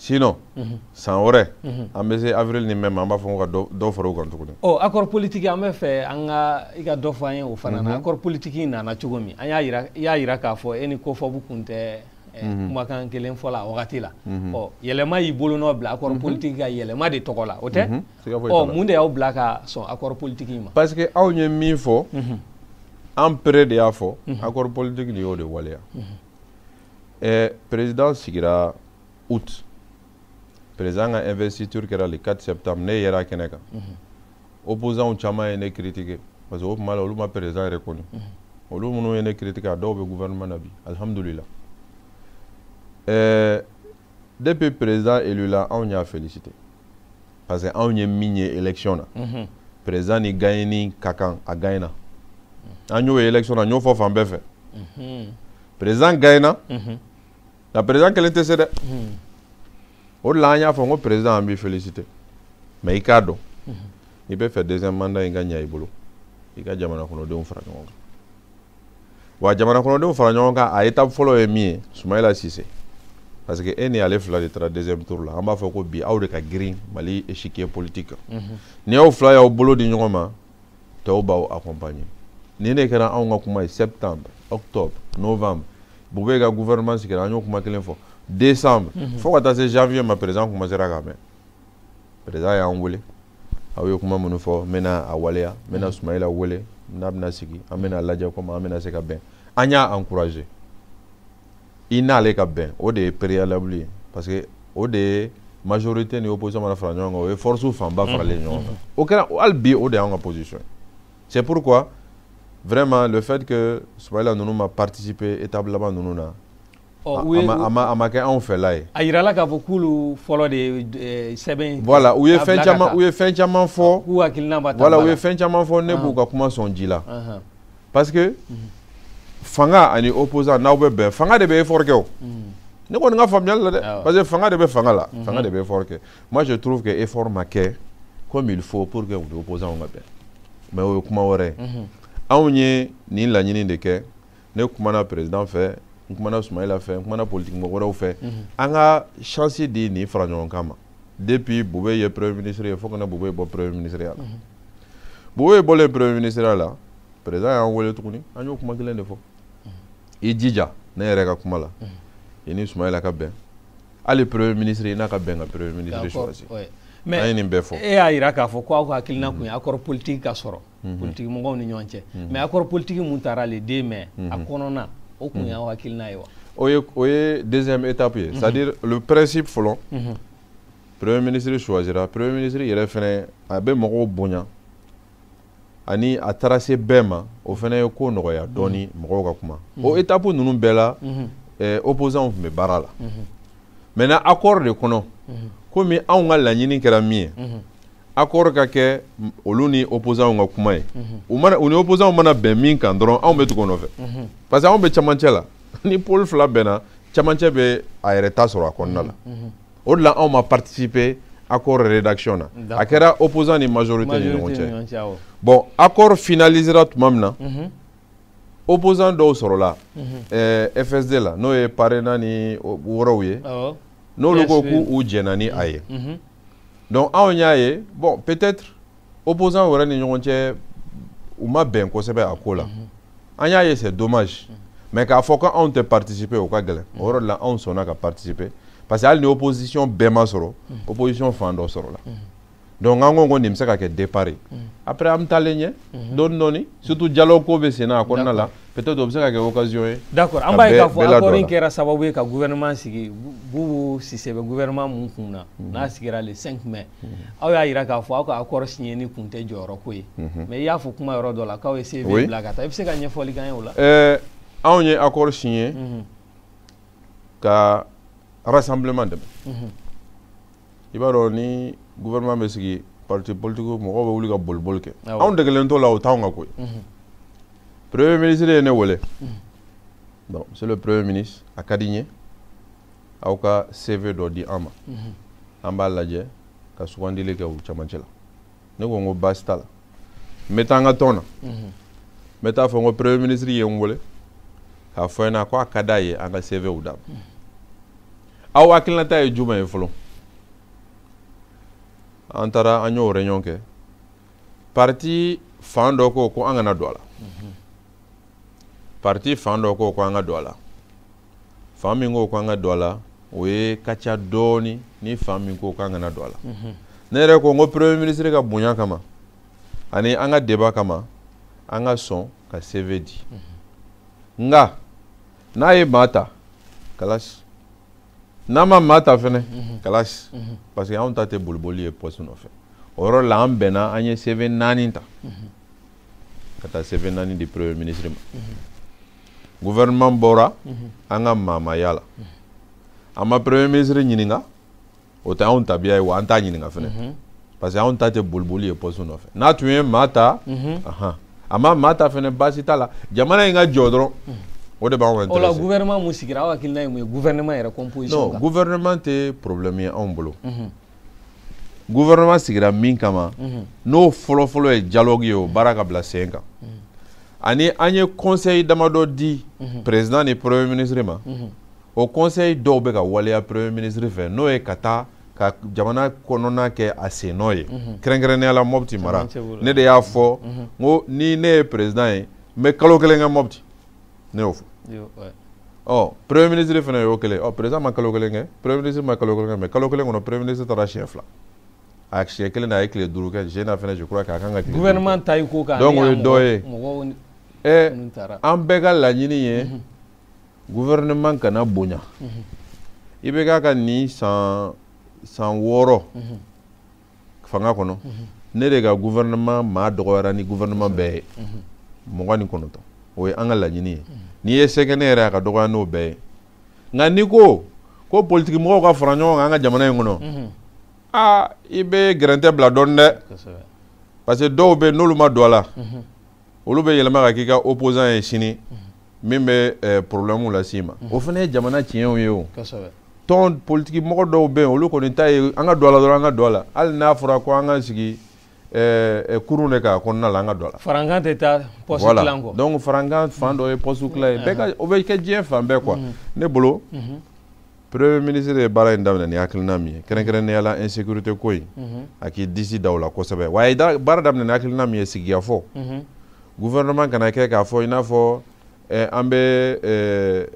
sinon mhm. san wɛrɛ mhm. an bɛ se avril ni mai ma an b'a fɔ ka dɔ fara o kan tuguni ɔ accord politique an b'a fɛ an ka i ka dɔ fɔ an ye o fana na mhm. accord politique nana cogo min an y'a yira i y'a yira k'a fɔ e ni COFOP kun tɛ eh, kumakan kelen fɔ la a wagati la ɔ Yɛlɛma y'i bolonɔ bila accord politique kan Yɛlɛma de tɔgɔ la o tɛ ɔ mun de y'aw bila ka sɔn accord politique ma parce que aw ye min fɔ an pere de y'a fɔ accord politique de y'o de waleya Eh, président sigira août président ka investiture kɛra le 4 septembre ne yera a kɛnɛ kan mm -hmm. opposants caman ye ne critiquer parce que o tuma la olu ma président reconnu mm -hmm. olu minnu ye ne critiquer a dɔw bɛ gouvernement na bi alhamdulila eh, depuis président élu la anw y'a féliciter parce que anw ye min ye élection na mhm. président ni gagneni ka kan a gagnena an y'o ye élection na n y'o fɔ fan bɛɛ fɛ mhm. président gagnena mhm. nka président kelen tɛ se dɛ o de la an y'a fɔ n ko président an b'i féliciter mais i k'a dɔn n'i bɛ fɛ deuxième mandat in ka ɲa i bolo i ka jamana kɔnɔdenw fara ɲɔgɔn kan wa jamana kɔnɔdenw fara ɲɔgɔn kan a étape fɔlɔ ye min ye sumayila sise parce que e ni ale fila de taara deuxième tour la an b'a fɔ ko bi aw de ka girin mali échiquier politique kan mhm. ni aw fila y'aw bolo di ɲɔgɔn ma tɔw b'aw accompagner nin de kɛra anw ka kuma ye septembre octobre novembre Boubèye ka gouvernement sigira an y'o kuma kelen fɔ décembre mhm. fo ka taa se janvier ma président commencera k'a mɛn président y'an wele aw ye kuma minnu fɔ n bɛna a waleya n bɛna sumayila wele n'a bɛna sigi an bɛna lajɛ comment an bɛna se ka bɛn an y'a encourager i n'ale ka bɛn o de ye préalable ye parce que o de ye majorité ni opposition mana fara ɲɔgɔn kan o ye force fanba faralen ɲɔgɔn kan o kɛra hali bi o de y'an ka position ye c'est pourquoi vraiment le fait que sumayila ninnu ma participer étape laban ninnu na a ma kɛ anw fɛla ye a jirala k'a fɔ k'olu fɔlɔ de ye sɛbɛn voilà u ye fɛn caman u ye fɛn caman fɔ k'u hakilina ma ta voilà u ye fɛn caman fɔ ne b'u ka kuma sɔn ji la parce que fanga ani opposant n'aw bɛ bɛn fanga de bɛ effort kɛ o ne kɔni ka faamuyali la dɛ parce que fanga de bɛ fanga la fanga de bɛ effort kɛ moi je trouve que effort ma kɛ comme il faut pour que u ni opposant ka bɛn mais o ye kuma wɛrɛ ye anw ye nin laɲini de kɛ ne kumana président fɛ n kumana Sumayila fɛ n kumana politique mɔgɔ wɛrɛw fɛ mhm. an ka chance di nin fara ɲɔgɔn kan ma depuis Boubèye ye premier ministre ye fo ka na Boubèye bɔ premier ministre ya la mhm. Boubèye bɔlen premier ministre ya la président y'an wele tuguni an y'o kuma kelen de fɔ mhm. i jija ne yɛrɛ ka kuma la i ni Sumayila ka bɛn hali premier ministre i n'a ka bɛn ka premier ministre choisi an ye nin bɛɛ fɔ e y'a jira k'a fɔ ko aw ka hakilina kun ye accord politique ka sɔrɔ mhm. politique mɔgɔw ni ɲɔgɔn cɛ mhm. mais accord politique min tara le 2 mai mhm. a kɔnɔna o kun y'aw hakilina ye wa o ye o ye deuxième étape ye c'est à dire le principe fɔlɔ premier ministre choisira premier ministre yɛrɛ fɛnɛ a bɛ mɔgɔw bonya ani a taara se bɛɛ ma o fɛnɛ ye ko nɔgɔya dɔɔni mɔgɔw ka kuma o étape ninnu bɛɛ la eh, opposants tun bɛ baara la maintenant accord de kɔnɔ komi anw ka laɲini kɛra min ye accord ka kɛ olu ni opposants ka kuma ye u mana u ni opposants mana bɛn min kan dɔrɔn anw bɛ tugu o nɔfɛ parce que anw bɛ camancɛ la ni pôle fila bɛnna camancɛ bɛ a yɛrɛ ta sɔrɔ a kɔnɔna la o de la anw ma participer accord rédaction na a kɛra opposant ni majorité ni ɲɔgɔn cɛ bon accord finalisera tuma min na opposant dɔw sɔrɔla FSD la n'o ye Parena ni wɛrɛw ye n'olu ko k'u jɛnna ni a ye donc anw y'a ye bon peut-être opposants yɛrɛ ni ɲɔgɔn cɛ u ma bɛn kosɛbɛ a ko la mhm. an y'a ye c'est dommage mhm. mais k'a fɔ ko anw tɛ participer o ka gɛlɛn o yɔrɔ de la anw sɔnna ka participer parce que hali ni opposition bɛɛ ma sɔrɔ mhm. opposition fan dɔ sɔrɔla donc an ko ko nin bɛ se ka kɛ départ ye après an bɛ taalen ɲɛ dɔɔni dɔɔni surtout dialogue ko bɛ senna a kɔnɔna la peut-être o bɛ se ka kɛ occasion ye. d'accord an b'a ye k'a fɔ accord in kɛra sababu ye ka gouvernement sigi Bubu Sise bɛ gouvernement min kun na mhm. n'a sigira le 5 mai mhm. aw y'a yira k'a fɔ aw ka accord signé ni kun tɛ jɔyɔrɔ ko ye mhm. mais i y'a fɔ kuma yɔrɔ dɔ la k'aw ye CV bila ka taa i bɛ se ka ɲɛfɔli k'an ye o la. ɛɛ anw ye accord signé ka rassemblement dɛmɛ. i b'a dɔn ni gouvernement bɛ sigi parti politique mɔgɔw bɛ wuli ka boliboli kɛ anw degelen t'o la o t'anw ka ko ye mhm. premier ministre ye ne wele mhm. bon monsieur le premier ministre a ka di n ye aw ka CV dɔ di an ma mhm. an b'a lajɛ ka sugandili kɛ u camancɛ la ne ko n ko baasi t'a la n bɛ taa n ka tɔn na n bɛ taa a fɔ n ko premier ministre ye n wele k'a fɔ n ɲɛna ko a ka d'a ye an ka CVw d'a ma aw hakilinata ye jumɛn ye fɔlɔ an taara an y'o réunion kɛ parti fan dɔ ko ko an kana don a la parti fan dɔ ko ko an ka don a la fan min ko k'an ka don a la o ye ka ca dɔɔni ni fan min ko k'an kana don a la mhm. ne yɛrɛ ko n ko premier ministre ka bonya kama ani an ka deba kama an ka sɔn ka CV di mhm. nka n'a ye maa ta kalasi n'a ma maa ta fɛnɛ mhm. kalasi parce que anw ta tɛ boliboli ye poste nɔfɛ o yɔrɔ la an bɛnna an ye CV naani ta. ka taa CV naani di premier ministre ma gouvernement bɔra an ka maa ma y'a la an ma premier ministre ɲininka o tɛ anw tabiya ye wa an t'a ɲininka fɛnɛ parce que anw ta tɛ boliboli ye poste nɔfɛ n'a tun ye maa ta a ma maa ta fɛnɛ baasi t'a la jamana in ka jɔ dɔrɔn o de b'anw intéresser o la gouvernement min sigira aw hakilina ye mun ye gouvernement yɛrɛ composition kan non gouvernement tɛ problème ye anw bolo gouvernement sigira min kama mhm. n'o fɔlɔfɔlɔ ye dialogue ye o baara ka bila sen kan mhm. ani an ye conseil damadɔ di mhm. président ni premier ministre ma o conseil dɔw bɛ ka waleya premier ministre fɛ n'o ye ka taa ka jamana kɔnɔna kɛ a sennɔ ye kɛrɛnkɛrɛnnenya la mɔpti mara ne de y'a fɔ n ko ni ne ye président ye n bɛ kalo kelen kɛ mɔpti ne y'o fɔ ɔ premier ministre fana y'o kelen ɔ président ma kalo kelen kɛ premier ministre ma kalo kelen kɛ mais kalo kelen kɔnɔ premier ministre taara siɲɛ fila a siɲɛ kelen na a ye tile duuru kɛ jena fana je crois k'a kan ka gouvernement ta i ko kan donc o ye dɔ ye ɛ an bɛɛ ka laɲini ye mhm. gouvernement kana bonya mhm. IBK ka nin san san wɔɔrɔ mhm. fanga kɔnɔ ne de ka gouvernement maa dɔgɔyara ni gouvernement bɛɛ ye mugan ni kɔnɔntɔn o ye an ka laɲini ye n'i ye sɛgɛ ne yɛrɛ a ka dɔgɔya n'o bɛɛ ye nka n'i ko ko politiki mɔgɔw ka fara ɲɔgɔn kan an ka jamana in kɔnɔ aa i bɛ gɛrɛntɛ bila dɔɔni dɛ parce que dɔw bɛ n'olu ma don a la olu bɛ yɛlɛma ka k'i ka opposant ye sini mhm. min bɛ eh, problème las'i ma mhm. o fana ye jamana tiɲɛw ye o tɔn politiki mɔgɔ dɔw bɛ yen olu kɔni ta ye an ka don a la dɔrɔn an ka don a la hali n'a fɔra ko an ka sigi eh, eh, kurun de k'a kɔnɔna la an ka don a la farankan tɛ taa poste tilan kɔ donc farankan fan dɔ ye poste tilan ye o bɛ kɛ diɲɛ fan bɛɛ quoi ne bolo Premier ministre ye baara in daminɛ ni hakilina min ye kɛrɛnkɛrɛnnenya la insécurité ko in mhm. a k'i disi da o la kosɛbɛ wa a ye baara daminɛ ni hakilina min ye sigikafɔ mhm. gouvernement kana kɛ k'a fɔ i n'a fɔ eh, an bɛ eh,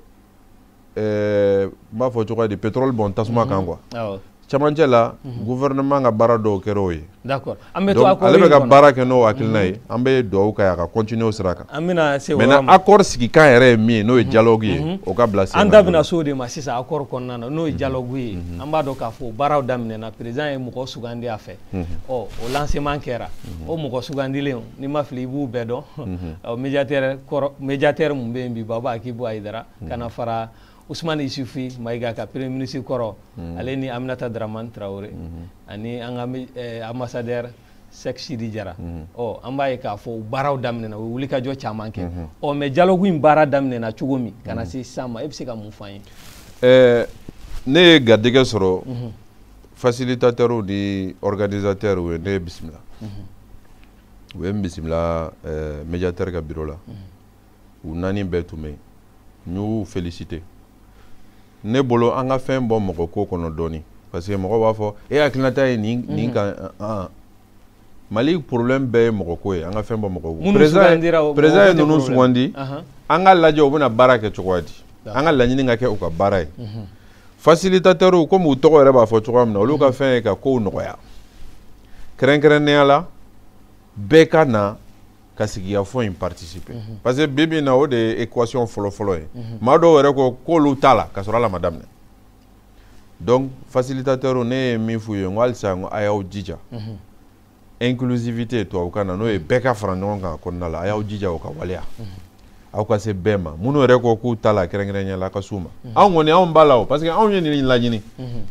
eh, n b'a fɔ cogoya di pétrole bɔn tasuma kan mhm. quoi cɛmancɛ la mhm. gouvernement ka baara dɔw kɛra o ye d'accord an bɛ to accord ale bɛ ka baara kɛ n'o hakilina ye mhm. an bɛ dugawu k'a ye a ka continuer o sira kan an bɛna se o yɔrɔ ma maintenant accord sigikan yɛrɛ ye min ye n'o ye mhm. dialogue ye o ka bila sen an da bɛna se o de ma sisan accord kɔnɔna na n'o ye dialogue ye an b'a dɔn k'a fɔ baaraw daminɛna président ye mɔgɔ sugandi a fɛ ɔ o lancement kɛra o mɔgɔ sugandilen n'i ma fili i b'u bɛɛ dɔn ɔ médiateur kɔrɔ médiateur min bɛ yen bi Baba Akibu Ayidara ka na fara usumani isufi mayiga ka premier ministre kɔrɔ mhm. ale ni aminata daraman tarawele mhm. ani an ka eh, ambassadeur sɛk sidi jara mhm. ɔ an b'a ye k'a fɔ u baaraw daminɛna u ye wulikajɔ caman kɛ ɔ mais dialogue in baara daminɛna cogo min ka na se sisan ma e bɛ se ka mun fɔ an ye eh, ne ye garijɛgɛ sɔrɔ facilitateurs ni organisateurs ye ne bisimila u ye n bisimila eh, médiateur ka biro la u naani bɛɛ tun bɛ yen n y'u féliciter ne bolo an ka fɛn bɔ mɔgɔ ko kɔnɔ dɔɔni parce que mɔgɔ b'a fɔ e hakilinata ye nin nin mhm. kan an Mali problème bɛɛ ye mɔgɔ ko ye an ka fɛn bɔ mɔgɔ ko président ye ninnu sugandi an ka lajɛ u bɛna baara kɛ cogoya di an ka laɲini ka kɛ u ka baara ye mhm. facilitateurs komi u tɔgɔ yɛrɛ b'a fɔ cogoya min na olu ka mhm. fɛn ye ka kow nɔgɔya kɛrɛnkɛrɛnnenya la bɛɛ ka na ka sigikafɔ in participer mhm. parce que bi bi na o de ye équation fɔlɔ fɔlɔ ye mhm. maa dɔw yɛrɛ ko k'olu t'a la ka sɔrɔ hali a ma daminɛ donc facilitateur ne ye min f'u ye n ko halisa n ko a y'aw jija mhm. inclusivité tubabukan na n'o ye bɛɛ ka fara ɲɔgɔn kan a kɔnɔna la a y'aw jija o ka waleya aw ka se bɛɛ ma minnu yɛrɛ ko k'u t'a la kɛrɛnkɛrɛnnenya la ka s'u ma mhm. anw kɔni anw b'a la o parce que anw ye nin laɲini mhm.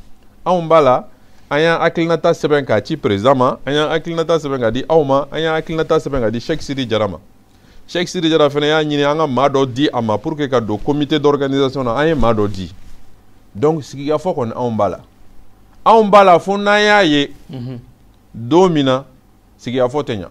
anw b'a la an y'an hakilinata sɛbɛn k'a ci président ma an y'an hakilinata sɛbɛn k'a di aw ma an y'an hakilinata sɛbɛn k'a di Cheikh Sidi Jara ma Cheikh Sidi Jara fana y'a ɲini an ka maa dɔ di a ma pour que ka don comité d'organisation na an ye maa dɔ di donc sigikafɔ kɔni anw b'a la anw b'a la fo n'an y'a ye mhm. don min na sigikafɔ tɛ ɲa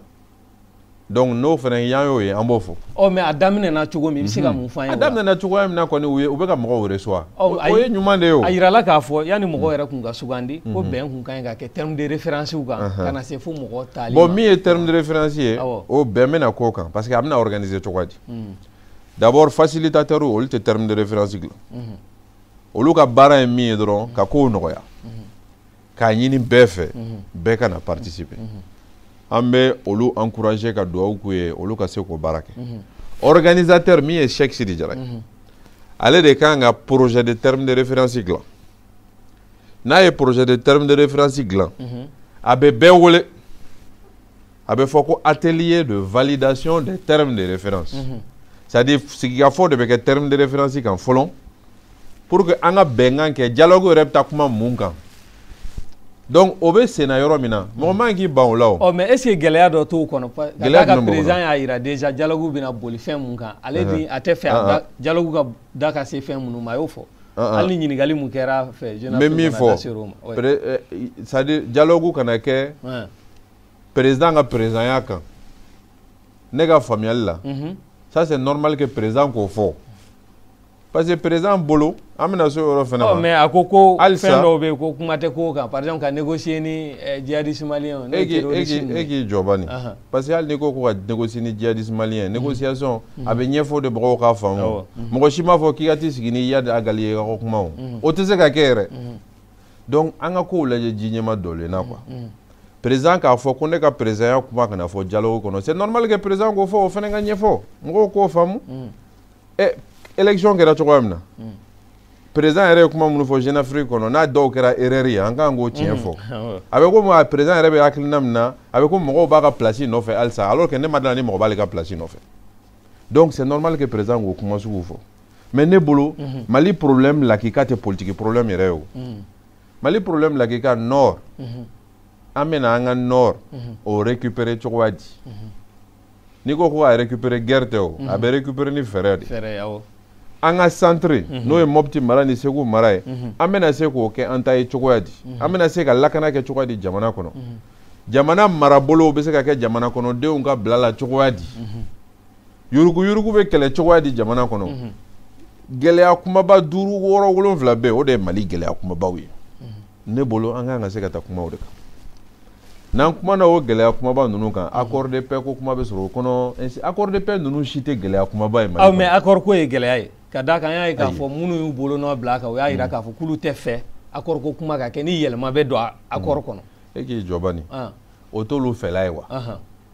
donc n'o fana y'an y'o ye an b'o fɔ. ɔ mais a daminɛna cogo min i bɛ se ka mun f'an ye. a daminɛna cogoya min na kɔni u ye u bɛ ka mɔgɔw reçoit. o ye ɲuman de ye o. a yirala k'a fɔ yanni mɔgɔw yɛrɛ tun ka sugandi. ko bɛn tun ka ɲi ka kɛ terme de référence kan. ka na se fo mɔgɔ tali ma. bon min ye terme de référence ye. awɔ o bɛn bɛna k'o kan parce que a bɛna organiser cogoya di. d'abord facilitateur olu tɛ terme de référence dilan. olu ka baara ye min ye dɔrɔn ka kow nɔgɔya. k'a ɲini bɛɛ fɛ mhm. bɛɛ ka na participer mhm. an bɛ olu encourager ka dugawu k'u ye olu ka se k'o baara kɛ mhm. organisateur min ye Cheikh Sidi Jara ye ale de ka kan ka projet de terme de référence dilan n'a ye projet de terme de référence dilan a bɛ bɛɛ wele a bɛ fɔ ko atelier de validation des termes de référence mhm. c'est à dire sigikafɔ de bɛ kɛ terme de référence kan fɔlɔ pour que an ka bɛnkan kɛ dialogue yɛrɛ bɛ taa kuma mun kan donc o bɛ senna yɔrɔ min na mɔgɔ man k'i ban o la o. ɔ mais est ce que gɛlɛya dɔ t'o kɔnɔ. gɛlɛya jumɛn b'o kɔnɔ ka président y'a jira déjà dialogue bɛna boli fɛn min kan ale ni a t'a fɛ a dialogue ka da ka se fɛn minnu ma a y'o fɔ. hali ni ɲininkali mun kɛra fɛ. n bɛ min fɔ c'est à dire dialogue kana kɛ. président ka présidentya kan ne ka faamuyali la mhm. ça c'est normal que président k'o fɔ parce que président bolo an bɛna se o yɔrɔ fana ma. ɔ mais a ko ko fɛn dɔw bɛ yen ko kuma tɛ k'o kan par exemple ka négocier ni eh, djihadiste malien n'o ye terroriste ninnu ye. e k'i jɔ bani parce que hali n'i ko ko ka négocier ni djihadiste malien négociation mhm. a bɛ ɲɛfɔ de mɔgɔw k'a faamu mɔgɔ si m'a fɔ k'i ka t'i sigi ni Iyad Agali ye ka ko kuma o o tɛ se ka kɛ yɛrɛ. donc an ka kow lajɛ ji ɲɛma dɔlen na quoi mm, mm. président k'a fɔ ko ne ka présidentya kuma kana fɔ dialogue kɔnɔ c'est normal que président k'o fɔ o fana ka ɲɛfɔ mɔgɔw k'o faamu mm. ɛ eh, élection kɛra cogoya min na président yɛrɛ ye kuma minnu fɔ jeune afrique kɔnɔ n'a dɔw kɛra erreur ye an kan k'o tiɲɛ fɔ a bɛ komi a président yɛrɛ bɛ hakilina min na a bɛ ko mɔgɔw b'a ka place nɔfɛ halisa alors que ne ma d'a la ni mɔgɔ b'ale ka place nɔfɛ donc c'est normal que président k'o kuma sugu fɔ mais ne bolo mhm. mali problème lakika tɛ politique problème yɛrɛ ye o mhm. mali problème lakika nord mhm. an bɛna an ka nord o récupérer cogoya di n'i ko ko a récupérer guerre tɛ o a bɛ récupérer ni fɛɛrɛ de an ka centre n'o ye mɔpti mara ni segu mara ye an bɛna se k'o kɛ an ta ye cogoya di an bɛna se ka lakana kɛ cogoya di jamana kɔnɔ jamana marabolo bɛ se ka kɛ jamana kɔnɔdenw ka bila la cogoya di yurugu yurugu bɛ kɛlɛ cogoya di jamana kɔnɔ mhm. gɛlɛya kumaba duuru wɔɔrɔ wolonwula bɛɛ o de ye mali gɛlɛya kumabaw ye mhm. ne bolo an kan ka se ka taa kumaw de kan n'an kumana o gɛlɛya kumaba ninnu kan mhm. accord de paix ko kuma bɛ sɔrɔ o kɔnɔ accord de paix ninnu si tɛ gɛlɛya kumaba ye mali kɔnɔ. awɔ mais accord ko ye gɛlɛya ye ka d'a kan an y'a ye k'a fɔ minnu y'u bolonɔ bila a kan o y'a jira k'a fɔ k'olu t'a fɛ accord ko kuma ka kɛ ni yɛlɛma bɛ don accord kɔnɔ. e k'i jɔ bani ah. o t'olu fɛla ye wa.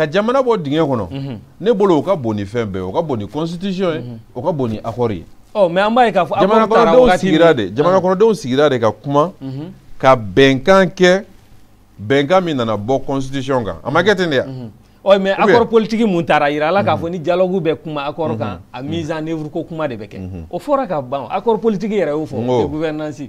ka jamana bɔ dingɛ kɔnɔ mhm. ne bolo o ka bon ni fɛn bɛɛ o ka bon ni constitution ye mhm. o ka bon ni accord ye oh, mais an b'a ye k'a fɔ jamanakɔnɔdenw sigira de ka kuma mhm. ka bɛnkan kɛ bɛnkan min nana bɔ constitution kan a ma kɛ ten de ya ɔ mais accord politique min tara y'a yira an la k'a fɔ ni dialogue bɛ kuma accord kan a mise en œuvre ko kuma de bɛ kɛ o fɔra ka ban accord politique yɛrɛ y'o fɔ gouvernance